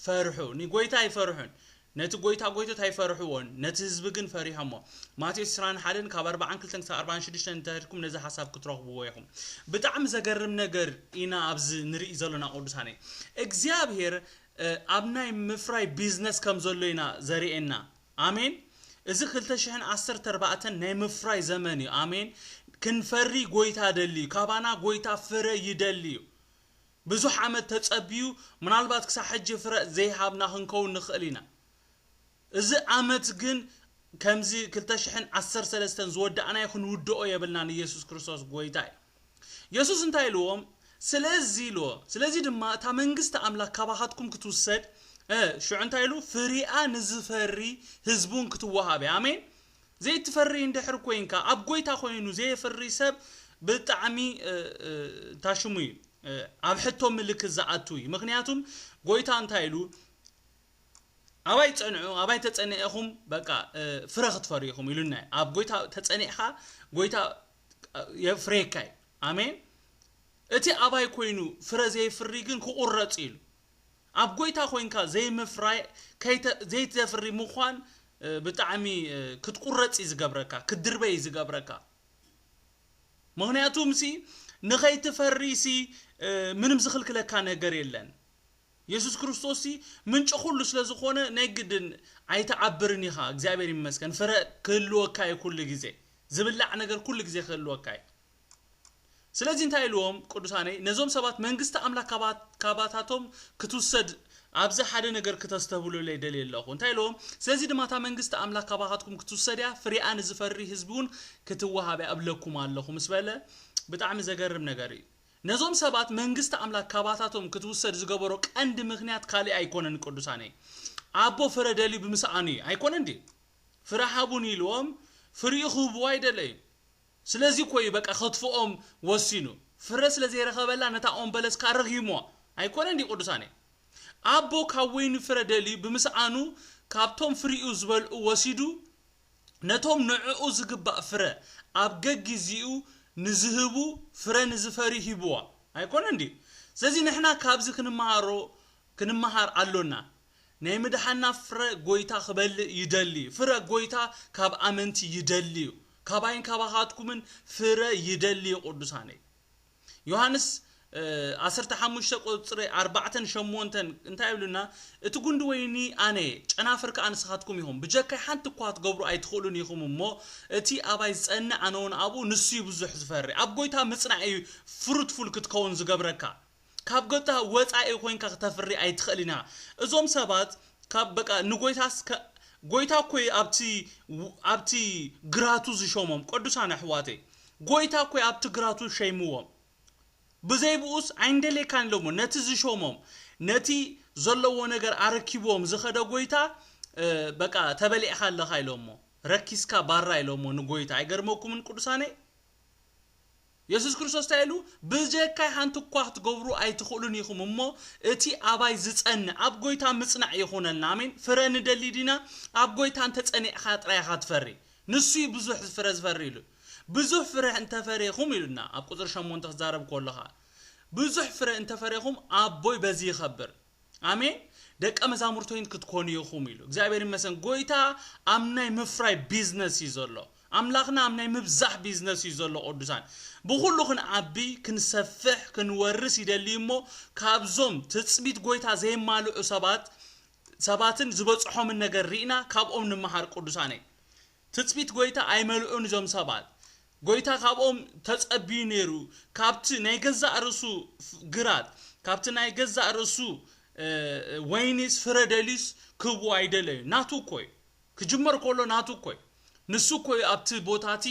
ፈርሑ ንጎይታ ኣይፈርሑን ነቲ ጎይታ ጎይቶት ኣይፈርሕዎን ነቲ ህዝቢ ግን ፈሪሖሞ ማቴዎስ ዕስራን ሓደን ካብ ኣርብዓን ክልተን ክሳብ ኣርብዓን ሽዱሽተን እንተድኩም ነዚ ሓሳብ ክትረኽብዎ ኢኹም ብጣዕሚ ዘገርም ነገር ኢና ኣብዚ ንርኢ ዘሎና ቅዱሳነይ እግዚኣብሄር ኣብ ናይ ምፍራይ ቢዝነስ ከም ዘሎ ኢና ዘርኤና ኣሜን እዚ ክልተ ሽሕን ዓሰርተ ኣርባዕተን ናይ ምፍራይ ዘመን እዩ ኣሜን ክንፈሪ ጎይታ ደልዩ ካባና ጎይታ ፍረ ይደልዩ ብዙሕ ዓመት ተጸብዩ ምናልባት ክሳዕ ሕጂ ፍረ ዘይሃብና ክንከውን ንኽእል ኢና። እዚ ኣመት ግን ከምዚ ክልተ ሽሕን ዓሰርተ ሰለስተን ዝወዳእናዮ ክንውድኦ የብልናን ኢየሱስ ክርስቶስ ጎይታ እዩ። የሱስ እንታይ ኢልዎም ስለዚ ኢልዎ ስለዚ ድማ እታ መንግስቲ ኣምላክ ካባካትኩም ክትውሰድ እ ሽዑ እንታይ ኢሉ ፍሪኣ ንዝፈሪ ህዝቢ ውን ክትወሃብ እያ ኣሜን ዘይትፈሪ እንድሕር ኮይንካ ኣብ ጎይታ ኮይኑ ዘየፍሪ ሰብ ብጣዕሚ ታሽሙ እዩ ኣብ ሕቶ ምልክት ዝኣቱ እዩ ምክንያቱም ጎይታ እንታይ ኢሉ ኣባይ ጸንዑ ኣባይ ተጸኒዕኹም በቃ ፍረ ክትፈሪ ኢኹም ኢሉና ኣብ ጎይታ ተጸኒዕካ ጎይታ የፍሬካ እዩ ኣሜን እቲ ኣባይ ኮይኑ ፍረ ዘይፍሪ ግን ክቁረጽ ኢሉ ኣብ ጎይታ ኮንካ ዘይምፍራይ ከይተ ዘይተፍሪ ምዃን ብጣዕሚ ክትቁረጽ እዩ ዝገብረካ ክትድርበይ እዩ ዝገብረካ ምክንያቱም ሲ ንኸይትፈሪ ሲ ምንም ዝኽልክለካ ነገር የለን የሱስ ክርስቶስ ሲ ምንጪ ኩሉ ስለ ዝኾነ ናይ ግድን ኣይትዓብርን ኢኻ እግዚኣብሔር ይመስገን ፍረ ክህልወካ እዩ ኩሉ ግዜ ዝብላዕ ነገር ኩሉ ግዜ ክህልወካ እዩ ስለዚ እንታይ ኢልዎም ቅዱሳነይ ነዞም ሰባት መንግስቲ ኣምላክ ካባታቶም ክትውሰድ ኣብዚ ሓደ ነገር ክተስተብህሉለይ ደልየ ኣለኩ እንታይ ኢልዎም ስለዚ ድማ እታ መንግስቲ ኣምላክ ካባካትኩም ክትውሰድ እያ ፍሬኣ ንዝፈሪ ህዝቢ ውን ክትዋሃብ እያ እብለኩም ኣለኩ ምስ በለ ብጣዕሚ ዘገርም ነገር እዩ ነዞም ሰባት መንግስቲ ኣምላክ ካባታቶም ክትውሰድ ዝገበሮ ቀንዲ ምክንያት ካሊእ ኣይኮነን ቅዱሳነይ ኣቦ ፍረ ደልዩ ብምስኣኑ እዩ ኣይኮነን ድዩ ፍረ ሃቡኒ ኢልዎም ፍሪኡ ክህብዎ ኣይደለዩን ስለዚ እኮ እዩ በቃ ከትፍኦም ወሲኑ ፍረ ስለ ዘይረኸበላ ነታ ኦም በለስ ከኣ ረጊምዋ ኣይኮነን ድዩ ቅዱሳኔ ኣቦ ካብ ወይኒ ፍረ ደልዩ ብምስኣኑ ካብቶም ፍሪኡ ዝበልዑ ወሲዱ ነቶም ንዕኡ ዝግባእ ፍረ ኣብ ገጊዚኡ ንዝህቡ ፍረ ንዝፈርዩ ሂብዋ ኣይኮነን ድዩ ስለዚ ንሕና ካብዚ ክንመሃሮ ክንመሃር ኣሎና ናይ ምድሓና ፍረ ጎይታ ክበልእ ይደሊ እዩ ፍረ ጎይታ ካብ ኣመንቲ ይደሊ እዩ ካባይን ካባካትኩምን ፍረ ይደሊ እዩ ቁዱሳነይ ዮሃንስ ዓሰርተ ሓሙሽተ ቁጽሪ ኣርባዕተን ሸሞንተን እንታይ ይብሉና እቲ ጉንዲ ወይኒ ኣነ እየ ጨናፍር ከኣ ንስካትኩም ኢኩም ብጀካይ ሓንቲ እኳ ክትገብሩ ኣይትክእሉን ኢኩም እሞ እቲ ኣባይ ዝጸንዕ ኣነውን ኣብኡ ንሱ እዩ ብዙሕ ዝፈሪ ኣብ ጎይታ ምጽናዕ እዩ ፍሩትፉል ክትከውን ዝገብረካ ካብ ጎታ ወጻኢ ኮንካ ክተፍሪ ኣይትክእል ኢና እዞም ሰባት ካብ በቃ ንጎይታስ ከ ጎይታ እኮ እዩ ኣብቲ ኣብቲ ግራቱ ዝሾሞም ቅዱሳን ኣሕዋተይ ጎይታ እኮ እዩ ኣብቲ ግራቱ ሸይምዎም ብዘይ ብኡስ ኣይንደልየካን ኢሎሞ ነቲ ዝሾሞም ነቲ ዘለዎ ነገር ኣረኪብዎም ዝከደ ጎይታ በቃ ተበሊዕካ ኣለካ ኢሎሞ ረኪስካ ባራ ኢሎሞ ንጎይታ ኣይገርመኩምን ቅዱሳነይ የሱስ ክርስቶስ እንታይ ኢሉ? ብጀካይ ሓንቲ እኳ ክትገብሩ ኣይትኽእሉን ኢኹም እሞ፣ እቲ ኣባይ ዚጸንዕ፣ ኣብ ጐይታ ምጽናዕ ይኹነልና። ኣሜን። ፍረ ንደሊ ዲና? ኣብ ጐይታ እንተ ጸኒዕካ ጥራይ ኢኻ ትፈሪ። ንሱ እዩ ብዙሕ ፍረ ዚፈሪ ኢሉ። ብዙሕ ፍረ እንተ ፈሬኹም ኢሉና፣ ኣብ ቍጽሪ ሸሞንተ ኪዛረብ ከሎ ኸኣ። ብዙሕ ፍረ እንተ ፈሬኹም፣ ኣቦይ በዚ ይኸብር። ኣሜን ደቀ መዛሙርቶይን ክትኮኑ ኢኹም ኢሉ እግዚኣብሔር ይመስገን ጎይታ ኣብ ናይ ምፍራይ ቢዝነስ እዩ ዘሎ ኣምላኽና ኣብ ናይ ምብዛሕ ቢዝነስ እዩ ዘሎ ቅዱሳን ብኹሉ ክንዓቢ ክንሰፍሕ ክንወርስ ይደሊ እሞ ካብዞም ትጽቢት ጎይታ ዘይማልዑ ሰባት ሰባትን ዝበጽሖምን ነገር ርኢና ካብኦም ንምሃር ቅዱሳነይ ትጽቢት ጐይታ ኣይመልኡን እዞም ሰባት። ጐይታ ካብኦም ተጸብዩ ነይሩ፣ ካብቲ ናይ ገዛእ ርእሱ ግራት፣ ካብቲ ናይ ገዛእ ርእሱ ወይኒስ ፍረ ደልዩስ ክህብዎ ኣይደለዩን። ናቱ እኮ እዩ። ክጅመር ከሎ ናቱ እኮ እዩ። ንሱ እኮ እዩ ኣብቲ ቦታ እቲ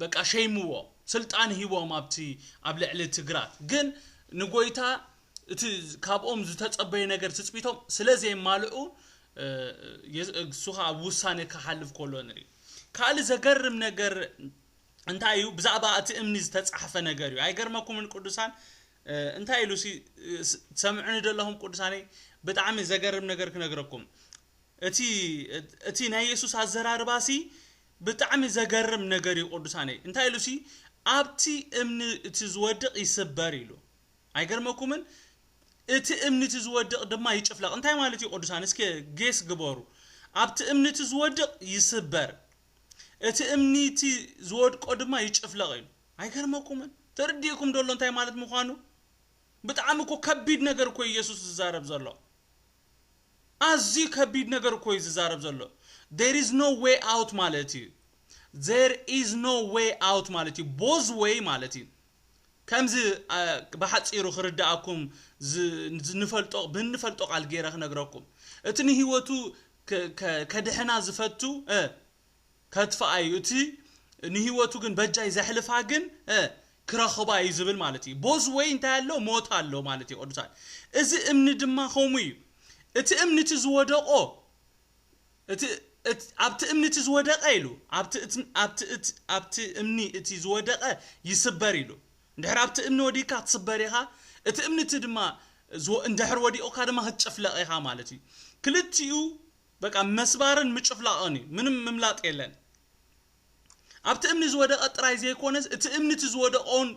በቃ ሸይምዎ፣ ስልጣን ሂቦም ኣብቲ ኣብ ልዕሊ እቲ ግራት። ግን ንጐይታ እቲ ካብኦም ዝተጸበዮ ነገር ትጽቢቶም ስለ ዘየማልኡ እሱ ከኣ ኣብ ውሳኔ ክሓልፍ ከሎ ንርኢ። ካልእ ዘገርም ነገር እንታይ እዩ ብዛዕባ እቲ እምኒ ዝተጻሕፈ ነገር እዩ ኣይገርመኩምን ቅዱሳን እንታይ ኢሉ ሲ ትሰምዑኒ ዶ ኣለኹም ቅዱሳነይ ብጣዕሚ ዘገርም ነገር ክነግረኩም እቲ እቲ ናይ የሱስ ኣዘራርባ ሲ ብጣዕሚ ዘገርም ነገር እዩ ቅዱሳነይ እንታይ ኢሉ ሲ ኣብቲ እምኒ እቲ ዝወድቕ ይስበር ኢሉ ኣይገርመኩምን እቲ እምኒ እቲ ዝወድቅ ድማ ይጭፍለቅ እንታይ ማለት እዩ ቅዱሳን እስከ ጌስ ግበሩ ኣብቲ እምኒ እቲ ዝወድቅ ይስበር እቲ እምኒ እቲ ዝወድቆ ድማ ይጭፍለቅ ኢሉ ኣይገርመኩምን ተርዲእኩም ዶ ኣሎ እንታይ ማለት ምኳኑ ብጣዕሚ እኮ ከቢድ ነገር እኮ እዩ የሱስ ዝዛረብ ዘሎ ኣዝዩ ከቢድ ነገር እኮ እዩ ዝዛረብ ዘሎ there is no way out ማለት እዩ there is no way out ማለት እዩ both way ማለት እዩ ከምዚ ብሓጺሩ ክርድኣኩም ንፈልጦ ብንፈልጦ ቃል ገይረ ክነግረኩም እቲ ንህይወቱ ከድሕና ዝፈቱ ከጥፍኣ እዩ እቲ ንህይወቱ ግን በጃይ ዘሕልፋ ግን ክረኽባ እዩ ዝብል ማለት እዩ ቦዝ ወይ እንታይ ኣሎ ሞት ኣሎ ማለት እዩ ቅዱሳን እዚ እምኒ ድማ ከምኡ እዩ እቲ እምኒ እቲ ዝወደቆ እቲ እት ኣብቲ እምኒ እቲ ዝወደቐ ኢሉ ኣብቲ እት ኣብቲ እት ኣብቲ እምኒ እቲ ዝወደቐ ይስበር ኢሉ እንድሕር ኣብቲ እምኒ ወዲቕካ ክትስበር ኢኻ እቲ እምኒ እቲ ድማ ዝወ እንድሕር ወዲቑካ ድማ ክትጭፍለቕ ኢኻ ማለት እዩ ክልቲኡ በቃ መስባርን ምጭፍላቕን እዩ ምንም ምምላጥ የለን ኣብቲ እምኒ ዝወደቐ ጥራይ ዘይኮነስ እቲ እምኒ እቲ ዝወደቐ እውን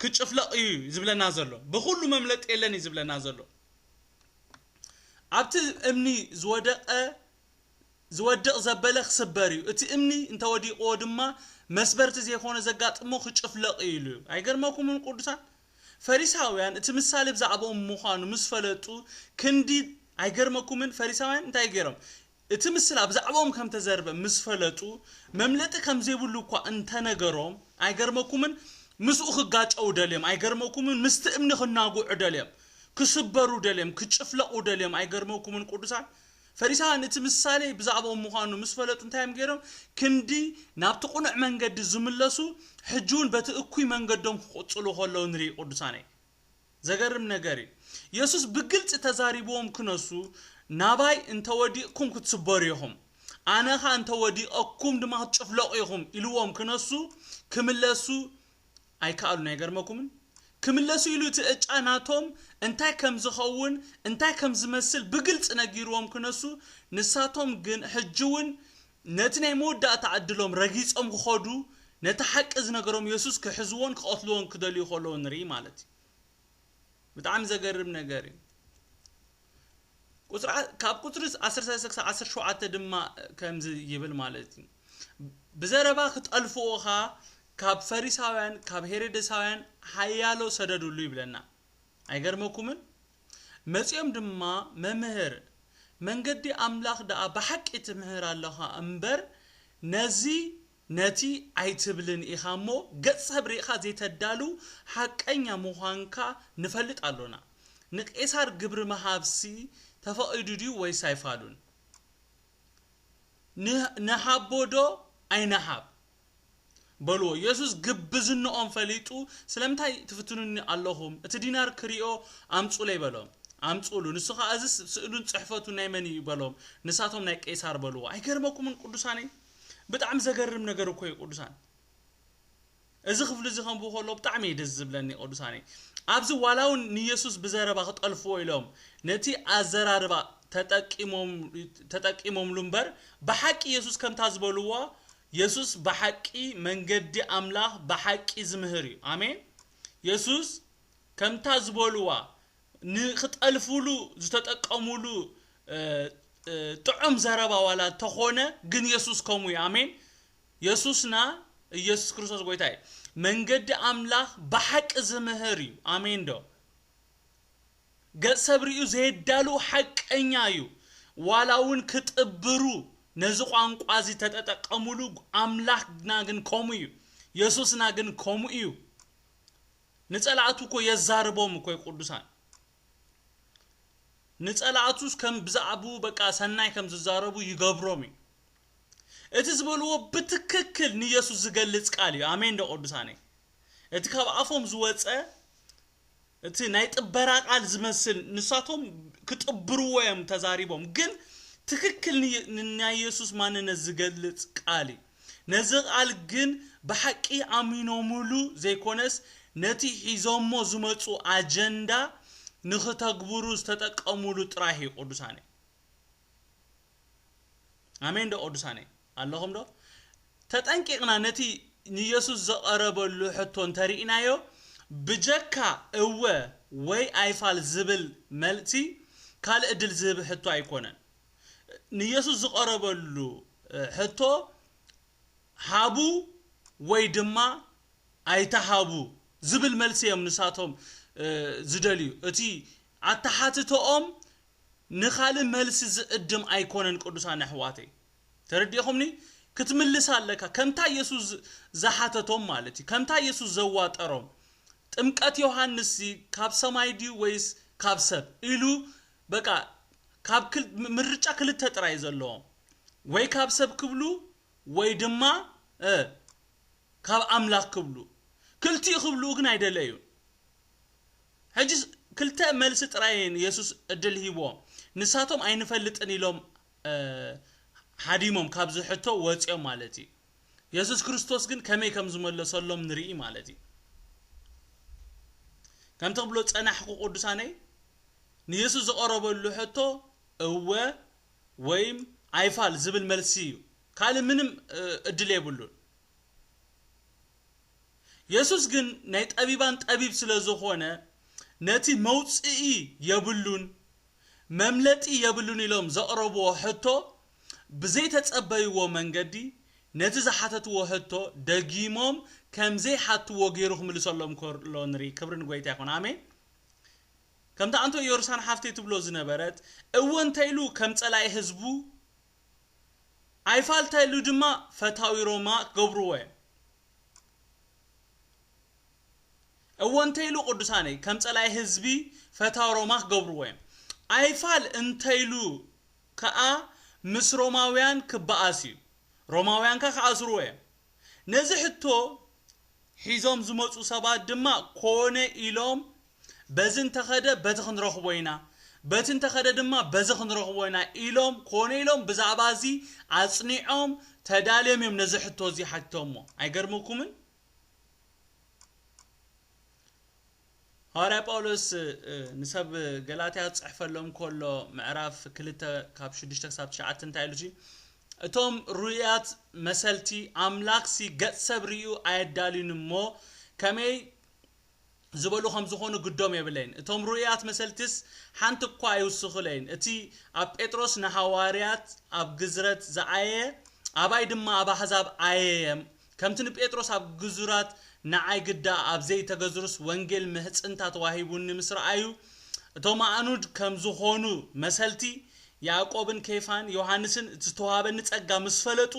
ክጭፍለቕ እዩ ዝብለና ዘሎ ብኹሉ መምለጢ የለን እዩ ዝብለና ዘሎ ኣብቲ እምኒ ዝወደቐ ዝወድቕ ዘበለ ክስበር እዩ፣ እቲ እምኒ እንተ ወዲቕዎ ድማ መስበርቲ ዘይኮነ ዘጋጥሞ ክጭፍለቕ እዩ ኢሉ እዩ። ኣይገርመኩምን ቅዱሳን? ፈሪሳውያን እቲ ምሳሌ ብዛዕብኦም ምዃኑ ምስ ፈለጡ ክንዲ ኣይገርመኩምን? ፈሪሳውያን እንታይ ገይሮም? እቲ ምስላ ብዛዕብኦም ከም እተዘርበ ምስ ፈለጡ፣ መምለጢ ከም ዘይብሉ እኳ እንተ ነገሮም፣ ኣይገርመኩምን? ምስኡ ኺጋጨዉ ደልዮም፣ ኣይገርመኩምን? ምስቲ እምኒ ኺናግዑ ደልዮም፣ ኪስበሩ ደልዮም፣ ኪጭፍለቑ ደልዮም፣ ኣይገርመኩምን? ቅዱሳን ፈሪሳውያን እቲ ምሳሌ ብዛዕብኦም ምዃኑ ምስ ፈለጡ እንታይ እዮም ገይሮም? ክንዲ ናብቲ ቕኑዕ መንገዲ ዚምለሱ፣ ሕጂውን በቲ እኩይ መንገዶም ኪቕጽሉ ኸለዉ ንርኢ። ቅዱሳነይ! ዘገርም ነገር እዩ የሱስ ብግልጺ ተዛሪብዎም ክነሱ ናባይ እንተ ወዲቕኩም ክትስበሩ ኢኹም ኣነ ኸኣ እንተ ወዲቐኩም ድማ ክትጭፍለቑ ኢኹም ኢልዎም ክነሱ ክምለሱ ኣይከኣሉን ኣይገርመኩምን ክምለሱ ኢሉ እቲ ዕጫ ናቶም እንታይ ከም ዝኸውን እንታይ ከም ዝመስል ብግልጺ ነጊርዎም ክነሱ ንሳቶም ግን ሕጂ እውን ነቲ ናይ መወዳእታ ዕድሎም ረጊጾም ክኸዱ ነቲ ሓቂ ዝነገሮም የሱስ ክሕዝዎን ክቐትልዎን ክደልዩ ከለዉ ንርኢ ማለት እዩ። ብጣዕሚ ዘገርም ነገር እዩ። ቁጽሪ ካብ ቁጽሪ ዓሰርተ ሰለስተ ክሳብ ዓሰርተ ሸውዓተ ድማ ከምዚ ይብል ማለት እዩ ብዘረባ ክጠልፍዎ ኸኣ ካብ ፈሪሳውያን ካብ ሄሮደሳውያን ሓያሎ ሰደድሉ ይብለና። ኣይገርመኩምን? መጺኦም ድማ መምህር መንገዲ ኣምላኽ ደኣ ብሓቂ ትምህር ኣሎኻ እምበር ነዚ ነቲ ኣይትብልን ኢኻ እሞ ገጽ ሰብ ርኢኻ ዘይተዳሉ ሓቀኛ ምዃንካ ንፈልጥ ኣሎና ንቄሳር ግብሪ ምሃብሲ ተፈቒዱ ድዩ ወይስ ኣይፋሉን ንሃቦ ዶ ኣይንሃብ በልዎ። የሱስ ግብዝንኦም ፈሊጡ፣ ስለምንታይ ትፍትኑኒ ኣሎኹም? እቲ ዲናር ክርእዮ ኣምጹለይ በሎም። ኣምጽእሉ። ንሱ ኸኣ እዝስ ስእሉን ጽሕፈቱን ናይ መን እዩ? በሎም። ንሳቶም ናይ ቄሳር በልዎ። ኣይገርመኩምን ቅዱሳነይ? ብጣዕሚ ዘገርም ነገር እኮ እዩ ቅዱሳን። እዚ ክፍሊ እዚ ከንብቦ ከለኹ ብጣዕሚ እዩ ደስ ዝብለኒ ቅዱሳነይ። ኣብዚ ዋላ እውን ንየሱስ ብዘረባ ክጠልፍዎ ኢሎም ነቲ ኣዘራርባ ተጠቂሞም ተጠቂሞምሉ እምበር ብሓቂ የሱስ ከምታ ዝበልዋ የሱስ ብሓቂ መንገዲ ኣምላኽ ብሓቂ ዝምህር እዩ ኣሜን የሱስ ከምታ ዝበልዋ ንክጠልፍሉ ዝተጠቀምሉ ጥዑም ዘረባ ዋላ ተኾነ ግን የሱስ ከምኡ እዩ ኣሜን የሱስና ኢየሱስ ክርስቶስ ጎይታ እዩ መንገዲ ኣምላኽ ብሓቂ ዝምህር እዩ ኣሜን ዶ ገጽ ሰብ ርእዩ ዘየዳልው ሓቀኛ እዩ ዋላ ውን ክጥብሩ ነዚ ቋንቋ እዚ ተጠጠቀሙሉ ኣምላክና ግን ከምኡ እዩ የሱስና ግን ከምኡ እዩ ንጸላእቱ እኮ የዛርቦም እኮ እዩ ቅዱሳን ንጸላእቱስ ከም ብዛዕብኡ በቃ ሰናይ ከም ዝዛረቡ ይገብሮም እዩ እቲ ዝበልዎ ብትክክል ንየሱስ ዝገልጽ ቃል እዩ ኣሜን ዶ ቅዱሳነይ እቲ ካብ ኣፎም ዝወጸ እቲ ናይ ጥበራ ቃል ዝመስል ንሳቶም ክጥብርዎ እዮም ተዛሪቦም ግን ትክክል ን ንናይ የሱስ ማንነት ዝገልጽ ቃል እዩ ነዚ ቃል ግን ብሓቂ ኣሚኖምሉ ዘይኮነስ ነቲ ሒዞሞ ዝመጹ ኣጀንዳ ንክተግብሩ ዝተጠቀምሉ ጥራህ እዩ ቅዱሳነይ ኣሜን ዶ ቅዱሳነይ። ኣለኹም ዶ? ተጠንቂቕና ነቲ ንየሱስ ዝቐረበሉ ሕቶ እንተ ርኢናዮ፣ ብጀካ እወ ወይ ኣይፋል ዝብል መልሲ ካልእ ዕድል ዝህብ ሕቶ ኣይኰነን። ንየሱስ ዝቐረበሉ ሕቶ ሃቡ ወይ ድማ ኣይትሃቡ ዝብል መልሲ ኢዮም ንሳቶም ዝደልዩ። እቲ ኣተሓትቶኦም ንኻልእ መልሲ ዝዕድም ኣይኰነን ቅዱሳን ኣሕዋተይ። ተረዲእኹምኒ ክትምልስ ኣለካ ከምታ የሱስ ዝሓተቶም ማለት እዩ ከምታ የሱስ ዘዋጠሮም ጥምቀት ዮሃንስሲ ካብ ሰማይ ድዩ ወይስ ካብ ሰብ ኢሉ በቃ ካብ ምርጫ ክልተ ጥራይ ዘለዎም ወይ ካብ ሰብ ክብሉ ወይ ድማ እ ካብ ኣምላኽ ክብሉ ክልቲኡ ክብልኡ ግን ኣይደለዩን ሕጂ ክልተ መልሲ ጥራይ የሱስ ዕድል ሂብዎም ንሳቶም ኣይንፈልጥን ኢሎም ሃዲሞም ካብዚ ሕቶ ወጺኦም ማለት እዩ። የሱስ ክርስቶስ ግን ከመይ ከም ዝመለሰሎም ንርኢ ማለት እዩ። ከምቲ ክብሎ ጸናሕኩ ቅዱሳነይ ንየሱስ ዝቐረበሉ ሕቶ እወ ወይም ኣይፋል ዝብል መልሲ እዩ። ካልእ ምንም እድል የብሉን። የሱስ ግን ናይ ጠቢባን ጠቢብ ስለ ዝኾነ ነቲ መውጽኢ የብሉን መምለጢ የብሉን ኢሎም ዘቕረብዎ ሕቶ ብዘይተጸበይዎ መንገዲ ነቲ ዝሓተትዎ ሕቶ ደጊሞም ከምዘይሓትዎ ገይሩ ክምልሰሎም ከሎ ንርኢ። ክብሪ ንጎይታ ይኹን። ኣሜን። ከምቲ ኣንቶ ዮርሳን ሓፍተይ ትብሎ ዝነበረት እወ እንተኢሉ ከም ጸላኢ ህዝቡ ኣይፋል ተኢሉ ድማ ፈታዊ ሮማ ክገብርዎ እዮም። እወ እንተይሉ ቅዱሳነይ ከም ጸላኢ ህዝቢ ፈታው ሮማ ክገብርዎ እዮም ኣይፋል እንተይሉ ከኣ ምስ ሮማውያን ክበኣስ እዩ ሮማውያን ከኣ ክኣስርዎ እዮም ነዚ ሕቶ ሒዞም ዝመጹ ሰባት ድማ ኮነ ኢሎም በዚ እንተኸደ በቲ ክንረኽቦ ኢና፣ በቲ እንተኸደ ድማ በዚ ክንረኽቦ ኢና ኢሎም ኮነ ኢሎም ብዛዕባ እዚ ኣጽኒዖም ተዳልዮም እዮም ነዚ ሕቶ እዚ ሓቲቶምዎ። ኣይገርመኩምን? ሃዋርያ ጳውሎስ ንሰብ ገላትያ ዝጽሕፈሎም ከሎ ምዕራፍ ክልተ ካብ ሽዱሽተ ክሳብ ትሽዓተ እንታይ ኢሉ እጂ እቶም ርኡያት መሰልቲ ኣምላኽሲ ገጽ ሰብ ርእዩ ኣየዳልዩን እሞ ከመይ ዝበሉ ከም ዝኾኑ ግዶም የብለይን። እቶም ርኡያት መሰልቲስ ሓንቲ እኳ ኣይውስኹለይን። እቲ ኣብ ጴጥሮስ ንሃዋርያት ኣብ ግዝረት ዝኣየየ፣ ኣባይ ድማ ኣብ ኣሕዛብ ኣየየ፣ ከምቲ ንጴጥሮስ ኣብ ግዙራት ንኣይ ግዳ ኣብ ዘይተገዝሩስ ወንጌል ምሕጽንታ ተዋሂቡኒ ምስ ረኣዩ እቶም ኣእኑድ ከም ዝኾኑ መሰልቲ ያእቆብን ኬፋን ዮሃንስን እቲ ዝተዋህበኒ ጸጋ ምስ ፈለጡ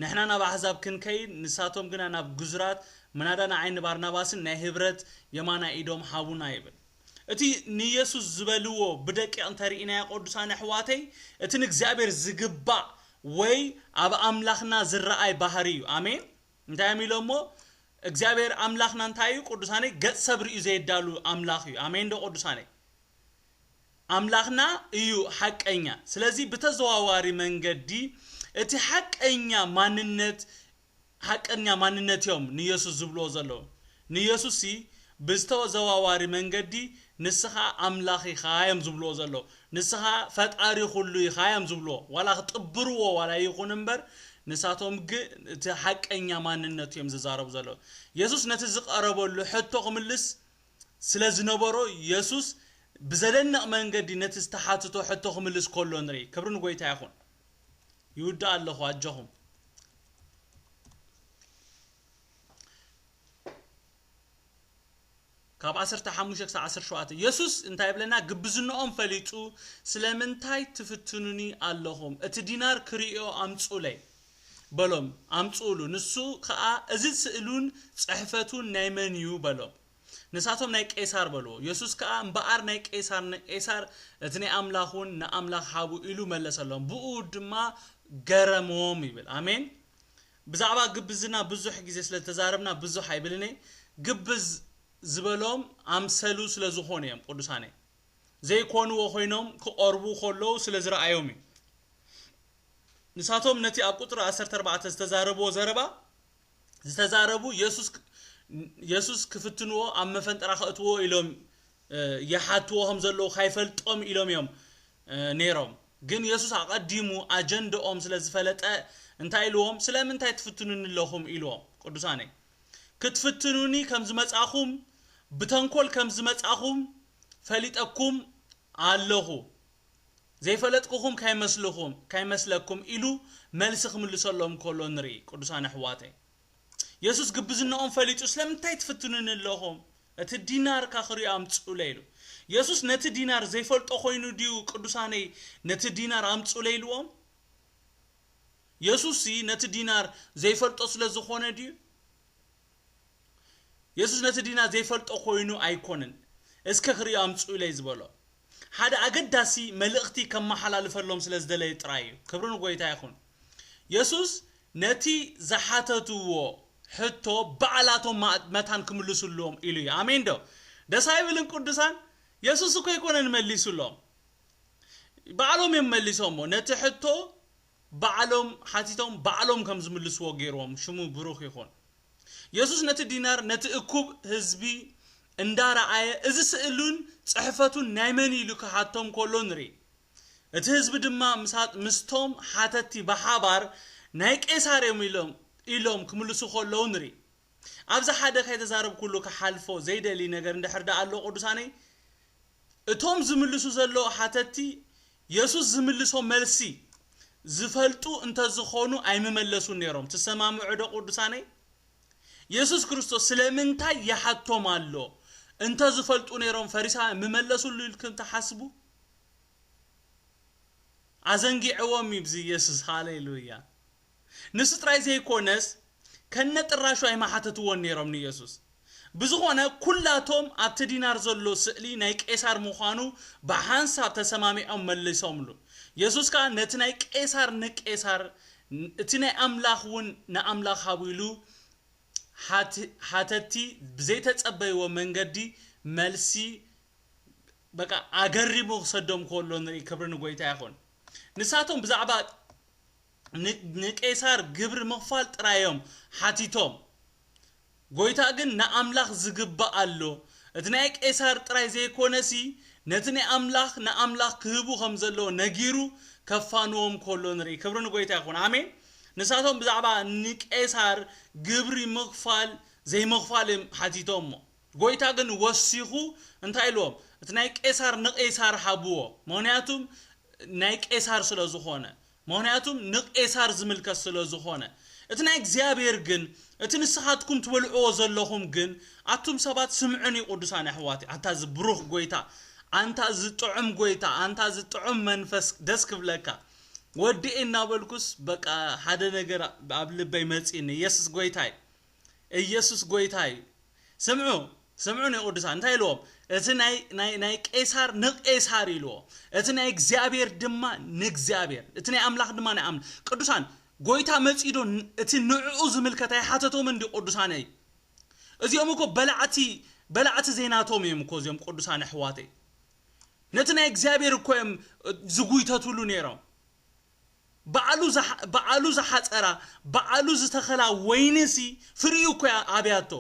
ንሕና ናብ ኣሕዛብ ክንከይድ፣ ንሳቶም ግና ናብ ግዙራት፣ ምናዳ ንዓይ ንባርናባስን ናይ ህብረት የማናይ ኢዶም ሃቡና ይብል። እቲ ንየሱስ ዝበልዎ ብደቂቕ እንተ ርኢናዮ ቅዱሳን ኣሕዋተይ እቲ ንእግዚኣብሔር ዝግባእ ወይ ኣብ ኣምላኽና ዝረኣይ ባህሪ እዩ። ኣሜን። እንታይ እዮም ኢሎሞ እግዚኣብሔር ኣምላኽና እንታይ እዩ ቅዱሳነይ ገጽ ሰብ ርእዩ ዘየዳሉ ኣምላኽ እዩ። ኣሜንዶ ቅዱሳነይ። ኣምላኽና እዩ ሓቀኛ፣ ስለዚ ብተዘዋዋሪ መንገዲ እቲ ሓቀኛ ማንነት ሓቀኛ ማንነት እዮም ንየሱስ ዝብልዎ ዘለዉ። ንየሱስሲ ብዝተዘዋዋሪ መንገዲ ንስኻ ኣምላኽ ኢኻ እዮም ዝብልዎ ዘለዉ። ንስኻ ፈጣሪ ኩሉ ኢኻ እዮም ዝብልዎ። ዋላ ክጥብርዎ ዋላ ይኹን እምበር ንሳቶም ግ እቲ ሓቀኛ ማንነቱ እዮም ዝዛረቡ ዘለዉ። የሱስ ነቲ ዝቐረበሉ ሕቶ ክምልስ ስለ ዝነበሮ የሱስ ብዘደንቕ መንገዲ ነቲ ዝተሓትቶ ሕቶ ክምልስ ከሎ ንርኢ። ክብሪ ንጎይታ ይኹን። ይውድእ ኣለኹ ኣጆኹም። ካብ ዓሰርተ ሓሙሽተ ክሳብ ዓሰርተ ሸውዓተ የሱስ እንታይ ይብለና? ግብዝንኦም ፈሊጡ ስለምንታይ ትፍትኑኒ ኣለኹም? እቲ ዲናር ክርእዮ ኣምጹለይ። በሎም ኣምጽኡሉ ንሱ ከኣ እዚ ስእሉን ጽሕፈቱን ናይ መን እዩ በሎም ንሳቶም ናይ ቄሳር በልዎ የሱስ ከኣ እምበኣር ናይ ቄሳር ንቄሳር እቲ ናይ ኣምላኽ ውን ንኣምላኽ ሃቡ ኢሉ መለሰሎም ብእኡ ድማ ገረሞም ይብል ኣሜን ብዛዕባ ግብዝና ብዙሕ ግዜ ስለ ዝተዛረብና ብዙሕ ኣይብልን እየ ግብዝ ዝበሎም ኣምሰሉ ስለ ዝኾኑ እዮም ቅዱሳነይ ዘይኰንዎ ዀይኖም ኪቐርቡ ኸለዉ ስለ ዝረኣዮም እዩ። ንሳቶም ነቲ ኣብ ቍጽሪ ዓሰርተ ኣርባዕተ ዝተዛረብዎ ዘረባ ዝተዛረቡ የሱስ ኪፍትንዎ ኣብ መፈንጠራ ኸእትውዎ ኢሎም ይሓትዎ ኸም ዘለዉ ኸይፈልጦም ኢሎም እዮም ነይሮም። ግን የሱስ ኣቐዲሙ ኣጀንድኦም ስለ ዝፈለጠ እንታይ ኢልዎም ስለምንታይ ትፍትኑኒ ኣለኹም ኢልዎም። ቅዱሳነይ! ክትፍትኑኒ ከም ዝመጻእኹም ብተንኮል ከም ዝመጻእኹም ፈሊጠኩም ኣለኹ ዘይፈለጥኩኹም ካይመስልኹም ካይመስለኩም ኢሉ መልሲ ክምልሰሎም ከሎ ንርኢ ቅዱሳን ኣሕዋተይ የሱስ ግብዝነኦም ፈሊጡ ስለምንታይ ትፍትኑኒ ኣለኹም እቲ ዲናር ካክርዮ ኣምጽኡለይ ኢሉ የሱስ ነቲ ዲናር ዘይፈልጦ ኮይኑ ድዩ ቅዱሳነይ ነቲ ዲናር ኣምጽኡለይ ኢልዎም የሱስሲ ነቲ ዲናር ዘይፈልጦ ስለ ዝዀነ ድዩ? የሱስ ነቲ ዲናር ዘይፈልጦ ዀይኑ ኣይኰነን እስከ ኽርእዮ ኣምጽኡለይ ዝበሎ። ሓደ ኣገዳሲ መልእኽቲ ከመሓላልፈሎም ስለ ዝደለየ ጥራይ እዩ። ክብሪ ንጐይታ ይኹን። የሱስ ነቲ ዝሓተትዎ ሕቶ ባዕላቶም መታን ክምልሱሎም ኢሉ እዩ። ኣሜንዶ ደስ ኣይብልን ቅዱሳን? የሱስ እኮ ኣይኰነን መሊሱሎም። ባዕሎም እዮም መሊሶሞ ነቲ ሕቶ ባዕሎም ሓቲቶም ባዕሎም ከም ዝምልስዎ ገይርዎም ሽሙ ብሩኽ ይኹን የሱስ ነቲ ዲናር ነቲ እኩብ ህዝቢ እንዳረኣየ እዚ ስእሉን ጽሕፈቱን ናይ መን እዩ ኢሉ ክሓቶም ከሎ ንርኢ እቲ ህዝቢ ድማ ምስቶም ሓተቲ ብሓባር ናይ ቄሳር እዮም ኢሎም ኢሎም ክምልሱ ከለዉ ንርኢ ኣብዚ ሓደ ከይተዛረብኩሉ ክሓልፎ ዘይደሊ ነገር እንድሕር ደኣ ኣሎ ቅዱሳነይ እቶም ዝምልሱ ዘለዉ ሓተትቲ የሱስ ዝምልሶም መልሲ ዝፈልጡ እንተ ዝዀኑ ኣይምመለሱን ነይሮም። ትሰማምዑዶ ቅዱሳነይ? የሱስ ክርስቶስ ስለምንታይ ይሓቶም ኣሎ? እንተ ዝፈልጡ ነይሮም ፈሪሳውያን ምመለሱሉ ኢልኩም ትሓስቡ? ኣዘንጊዕዎም እዩ ብዚ የሱስ። ሃሌሉያ! ንሱ ጥራይ ዘይኰነስ፣ ከነጥራሹ ኣይምሓተትዎን ነይሮም ንየሱስ። ብዝዀነ፣ ኵላቶም ኣብቲ ዲናር ዘሎ ስእሊ ናይ ቄሳር ምዃኑ ብሓንሳብ ተሰማሚዖም መለሶምሉ። የሱስ ከኣ ነቲ ናይ ቄሳር ንቄሳር፣ እቲ ናይ ኣምላኽ እውን ንኣምላኽ ሃቡ ኢሉ ሓተቲ ብዘይተጸበይዎ መንገዲ መልሲ ኣገሪሙ ክሰዶም ከሎ ንርኢ። ክብሪ ንጐይታ ይኹን። ንሳቶም ብዛዕባ። ንቄሳር ግብሪ ምኽፋል ጥራይ እዮም ሓቲቶም ጎይታ ግን ንኣምላኽ ዝግባእ ኣሎ እቲ ናይ ቄሳር ጥራይ ዘይኮነሲ ነቲ ናይ ኣምላኽ ንኣምላኽ ክህቡ ከም ዘለዎ ነጊሩ ከፋንዎም ከሎ ንርኢ ክብሪ ንጎይታ ይኹን ኣሜን ንሳቶም ብዛዕባ ንቄሳር ግብሪ ምኽፋል ዘይምኽፋል እዮም ሓቲቶሞ ጎይታ ግን ወሲኹ እንታይ ኢልዎም እቲ ናይ ቄሳር ንቄሳር ሃብዎ ምኽንያቱም ናይ ቄሳር ስለ ዝኾነ ምኽንያቱም ንቄሳር ዝምልከት ስለ ዝኾነ። እቲ ናይ እግዚኣብሔር ግን እቲ ንስኻትኩም ትበልዕዎ ዘለኹም ግን ኣቱም ሰባት ስምዑኒ ቁዱሳን ኣሕዋተይ ኣታ እዚ ብሩኽ ጎይታ ኣንታ እዚ ጥዑም ጎይታ ኣንታ እዚ ጥዑም መንፈስ ደስ ክብለካ ወዲ እናበልኩስ በቃ ሓደ ነገር ኣብ ልበይ መጺኒ የስስ ጎይታይ እየሱስ ጎይታ እዩ ስምዑ ስምዑኒ ቅዱሳን እንታይ ኢልዎም እቲ ናይ ናይ ናይ ቄሳር ንቄሳር ኢልዎ እቲ ናይ እግዚኣብሔር ድማ ንእግዚኣብሔር እቲ ናይ ኣምላኽ ድማ ናይ ኣምላኽ ቅዱሳን ጎይታ መጺዶ እቲ ንዕኡ ዝምልከት ኣይሓተቶምን እንዲ ቅዱሳነይ እዚኦም እኮ በላዕቲ በላዕቲ ዘይናቶም እዮም እኮ እዚኦም ቅዱሳን ኣሕዋተይ ነቲ ናይ እግዚኣብሔር እኮ እዮም ዝጉይተትሉ ነይሮም ባዕሉ ባዕሉ ዝሓጸራ ባዕሉ ዝተኸላ ወይኒሲ ፍሪኡ እኮ እያ ኣብያቶ።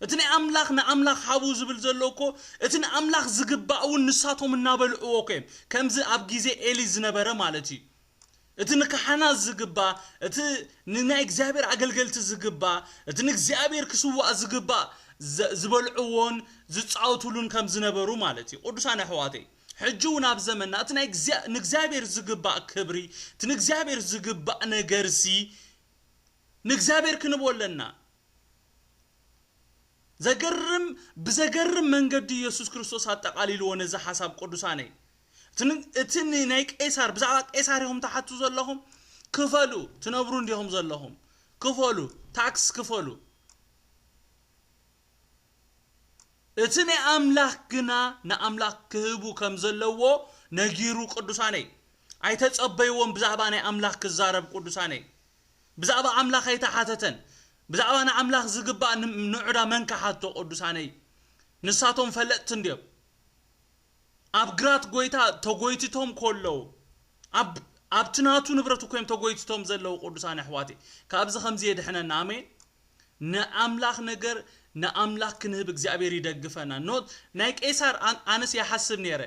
እቲ ናይ ኣምላኽ ንኣምላኽ ሃቡ ዝብል ዘሎ እኮ እቲ ንኣምላኽ ዝግባእ እውን ንሳቶም እናበልዕዎ እኮ እዮም ከምዚ ኣብ ግዜ ኤሊ ዝነበረ ማለት እዩ እቲ ንካህናት ዝግባእ እቲ ንናይ እግዚኣብሔር ኣገልገልቲ ዝግባእ እቲ ንእግዚኣብሔር ክስዋእ ዝግባእ ዝበልዕዎን ዝጻወትሉን ከም ዝነበሩ ማለት እዩ ቅዱሳን ኣሕዋተይ ሕጂ እውን ኣብ ዘመንና እቲ ናይ ንእግዚኣብሔር ዝግባእ ክብሪ እቲ ንእግዚኣብሔር ዝግባእ ነገርሲ ንእግዚኣብሔር ክንህቦ ኣለና። ዘገርም ብዘገርም መንገዲ ኢየሱስ ክርስቶስ ኣጠቓሊልዎ ነዚ ሓሳብ ቅዱሳነይ እቲ ናይ ቄሳር ብዛዕባ ቄሳር ኢኹም ትሓቱ ዘለኹም ክፈሉ ትነብሩ እንዲኹም ዘለኹም ክፈሉ ታክስ ክፈሉ እቲ ናይ ኣምላኽ ግና ንኣምላኽ ክህቡ ከም ዘለዎ ነጊሩ ቅዱሳነይ ኣይተጸበይዎን ብዛዕባ ናይ ኣምላኽ ክዛረብ ቅዱሳነይ ብዛዕባ ኣምላኽ ኣይተሓተተን ብዛዕባ ንኣምላኽ ዝግባእ ንዑዳ መን ክሓቶ ቅዱሳነይ ንሳቶም ፈለጥቲ እንድዮም ኣብ ግራት ጎይታ ተጎይትቶም ኮለዉ ኣብ ኣብቲ ናቱ ንብረት ኮይም ተጎይትቶም ዘለዉ ቅዱሳን ኣሕዋተይ ካብዚ ከምዚ የድሕነና ኣሜን ንኣምላኽ ነገር ንኣምላኽ ክንህብ እግዚኣብሔር ይደግፈና not ናይ ቄሳር ኣነስ ይሓስብ ነይረ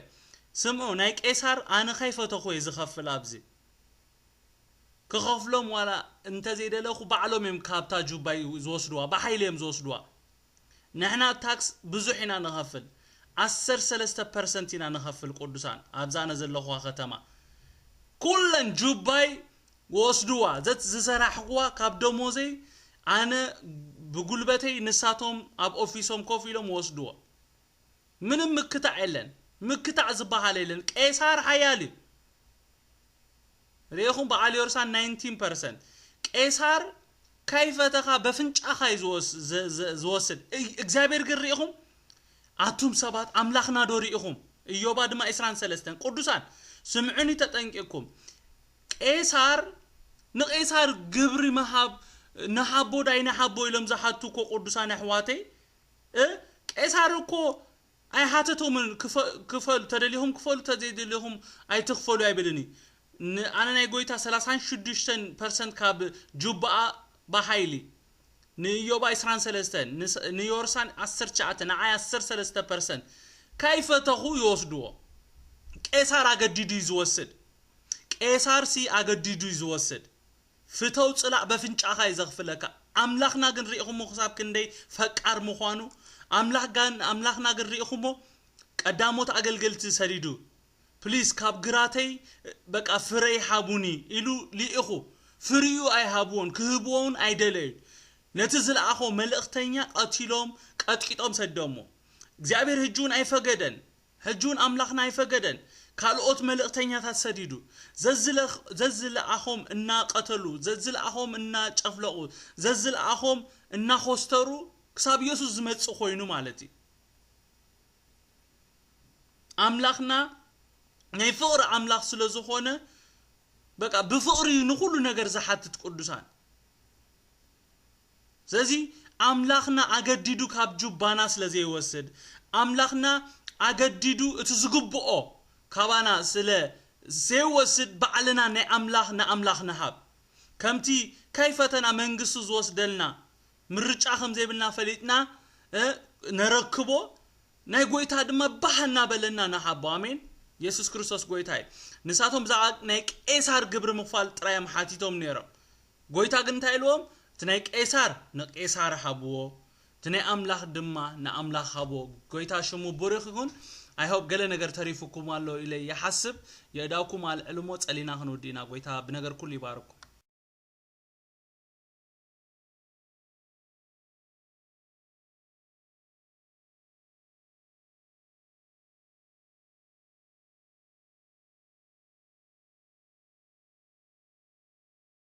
ስምዑ ናይ ቄሳር ኣነ ከይፈተኹ እየ ዝኸፍል ኣብዚ ክኸፍሎም ዋላ እንተዘይደለኹ ባዕሎም እዮም ካብታ ጁባይ ዝወስድዋ ብሓይሊ እዮም ዝወስድዋ ንሕና ታክስ ብዙሕ ኢና ንኸፍል ዓሰርተ ሰለስተ ፐርሰንት ኢና ንኸፍል ቅዱሳን ኣብዛ ኣነ ዘለኹዋ ከተማ ኩለን ጁባይ ወስድዋ ዘት ዝሰራሕክዋ ካብ ደሞዘይ ኣነ ብጉልበተይ ንሳቶም ኣብ ኦፊሶም ኮፍ ኢሎም ወስድዎ ምንም ምክታዕ የለን ምክታዕ ዝባሃል የለን ቄሳር ሓያል እዩ ሪኢኩም ባዓል ዮርሳን ናይንቲን ፐርሰንት ቄሳር ካይፈተኻ በፍንጫኻ እዩ ዝወስድ እግዚኣብሔር ግን ሪኢኩም ኣቱም ሰባት ኣምላኽና ዶ ሪኢኩም እዮባ ድማ ኢስራን ሰለስተን ቁዱሳን ስምዑኒ ተጠንቂቅኩም ቄሳር ንቄሳር ግብሪ ምሃብ ንሃቦ ዳይንሃቦ ኢሎም ዝሓቱ እኮ ቁዱሳን ኣሕዋተይ እ ቄሳር እኮ ኣይሃተቶምን ክፈሉ ተደሊኹም ክፈሉ ተዘይደሊኹም ኣይትኽፈሉ ኣይብልን እዩ ን ኣነ ናይ ጎይታ ሰላሳን ሽዱሽተን ፐርሰንት ካብ ጁባኣ ብሃይሊ ንእዮባ ዕስራን ሰለስተን ንዮርሳን ዓሰርተ ትሽዓተ ንዓይ ዓሰርተ ሰለስተ ፐርሰንት ከይፈተኹ ይወስድዎ ቄሳር ኣገዲዱ እዩ ዝወስድ ቄሳር ሲ ኣገዲዱ እዩ ዝወስድ ፍተው ጽላእ በፍንጫካ እዩ ዘክፍለካ ኣምላክና ግን ሪኢኩሞ ክሳብ ክንደይ ፈቃር ምኳኑ ኣምላክ ጋን ኣምላክና ግን ሪኢኩሞ ቀዳሞት ኣገልገልቲ ሰዲዱ ፕሊስ ካብ ግራተይ በቃ ፍረይ ሃቡኒ ኢሉ ሊኢኩ ፍሪኡ ኣይሃብዎን ክህብዎ ውን ኣይደለዩን ነቲ ዝለኣኮ መልእክተኛ ቀቲሎም ቀጥቂጦም ሰደሞ እግዚኣብሔር ህጂ ውን ኣይፈገደን ሕጂውን ኣምላኽና ኣይፈገደን፣ ካልኦት መልእኽተኛታት ሰዲዱ፣ ዘዝለኣኾም እናቐተሉ፣ ዘዝለኣኾም እናጨፍለቑ፣ ዘዝለኣኾም እናኾስተሩ ክሳብ የሱስ ዝመጽእ ኮይኑ ማለት እዩ። ኣምላኽና ናይ ፍቕሪ ኣምላኽ ስለ ዝኾነ በቃ ብፍቕሪ እዩ ንኹሉ ነገር ዝሓትት ቅዱሳን። ስለዚ ኣምላኽና ኣገዲዱ ካብ ጁባና ስለ ዘይወስድ፣ ኣምላኽና ኣገዲዱ እቲ ዝግብኦ ካባና ስለ ዘይወስድ ባዕልና ናይ ኣምላኽ ንኣምላኽ ንሃብ። ከምቲ ከይፈተና መንግስቱ ዝወስደልና ምርጫ ከም ዘይብልና ፈሊጥና እ ነረክቦ ናይ ጎይታ ድማ ባህ እናበለና ንሃቦ። ኣሜን። የሱስ ክርስቶስ ጎይታ እዩ። ንሳቶም ብዛዕባ ናይ ቄሳር ግብሪ ምኽፋል ጥራይ እዮም ሓቲቶም ነይሮም። ጎይታ ግን እንታይ ኢልዎም እቲ ናይ ቄሳር ንቄሳር ሃብዎ እቲ ናይ ኣምላክ ድማ ንኣምላክ ሃብዎ ጎይታ ሽሙ ቡሪክ ይኩን i hope ገለ ነገር ተሪፉኩም ኣሎ ኢለ ይሓስብ የእዳውኩም ኣልዕሉ እሞ ጸሊና ክንውዲ ኢና ጎይታ ብነገር ኩሉ ይባርኩም።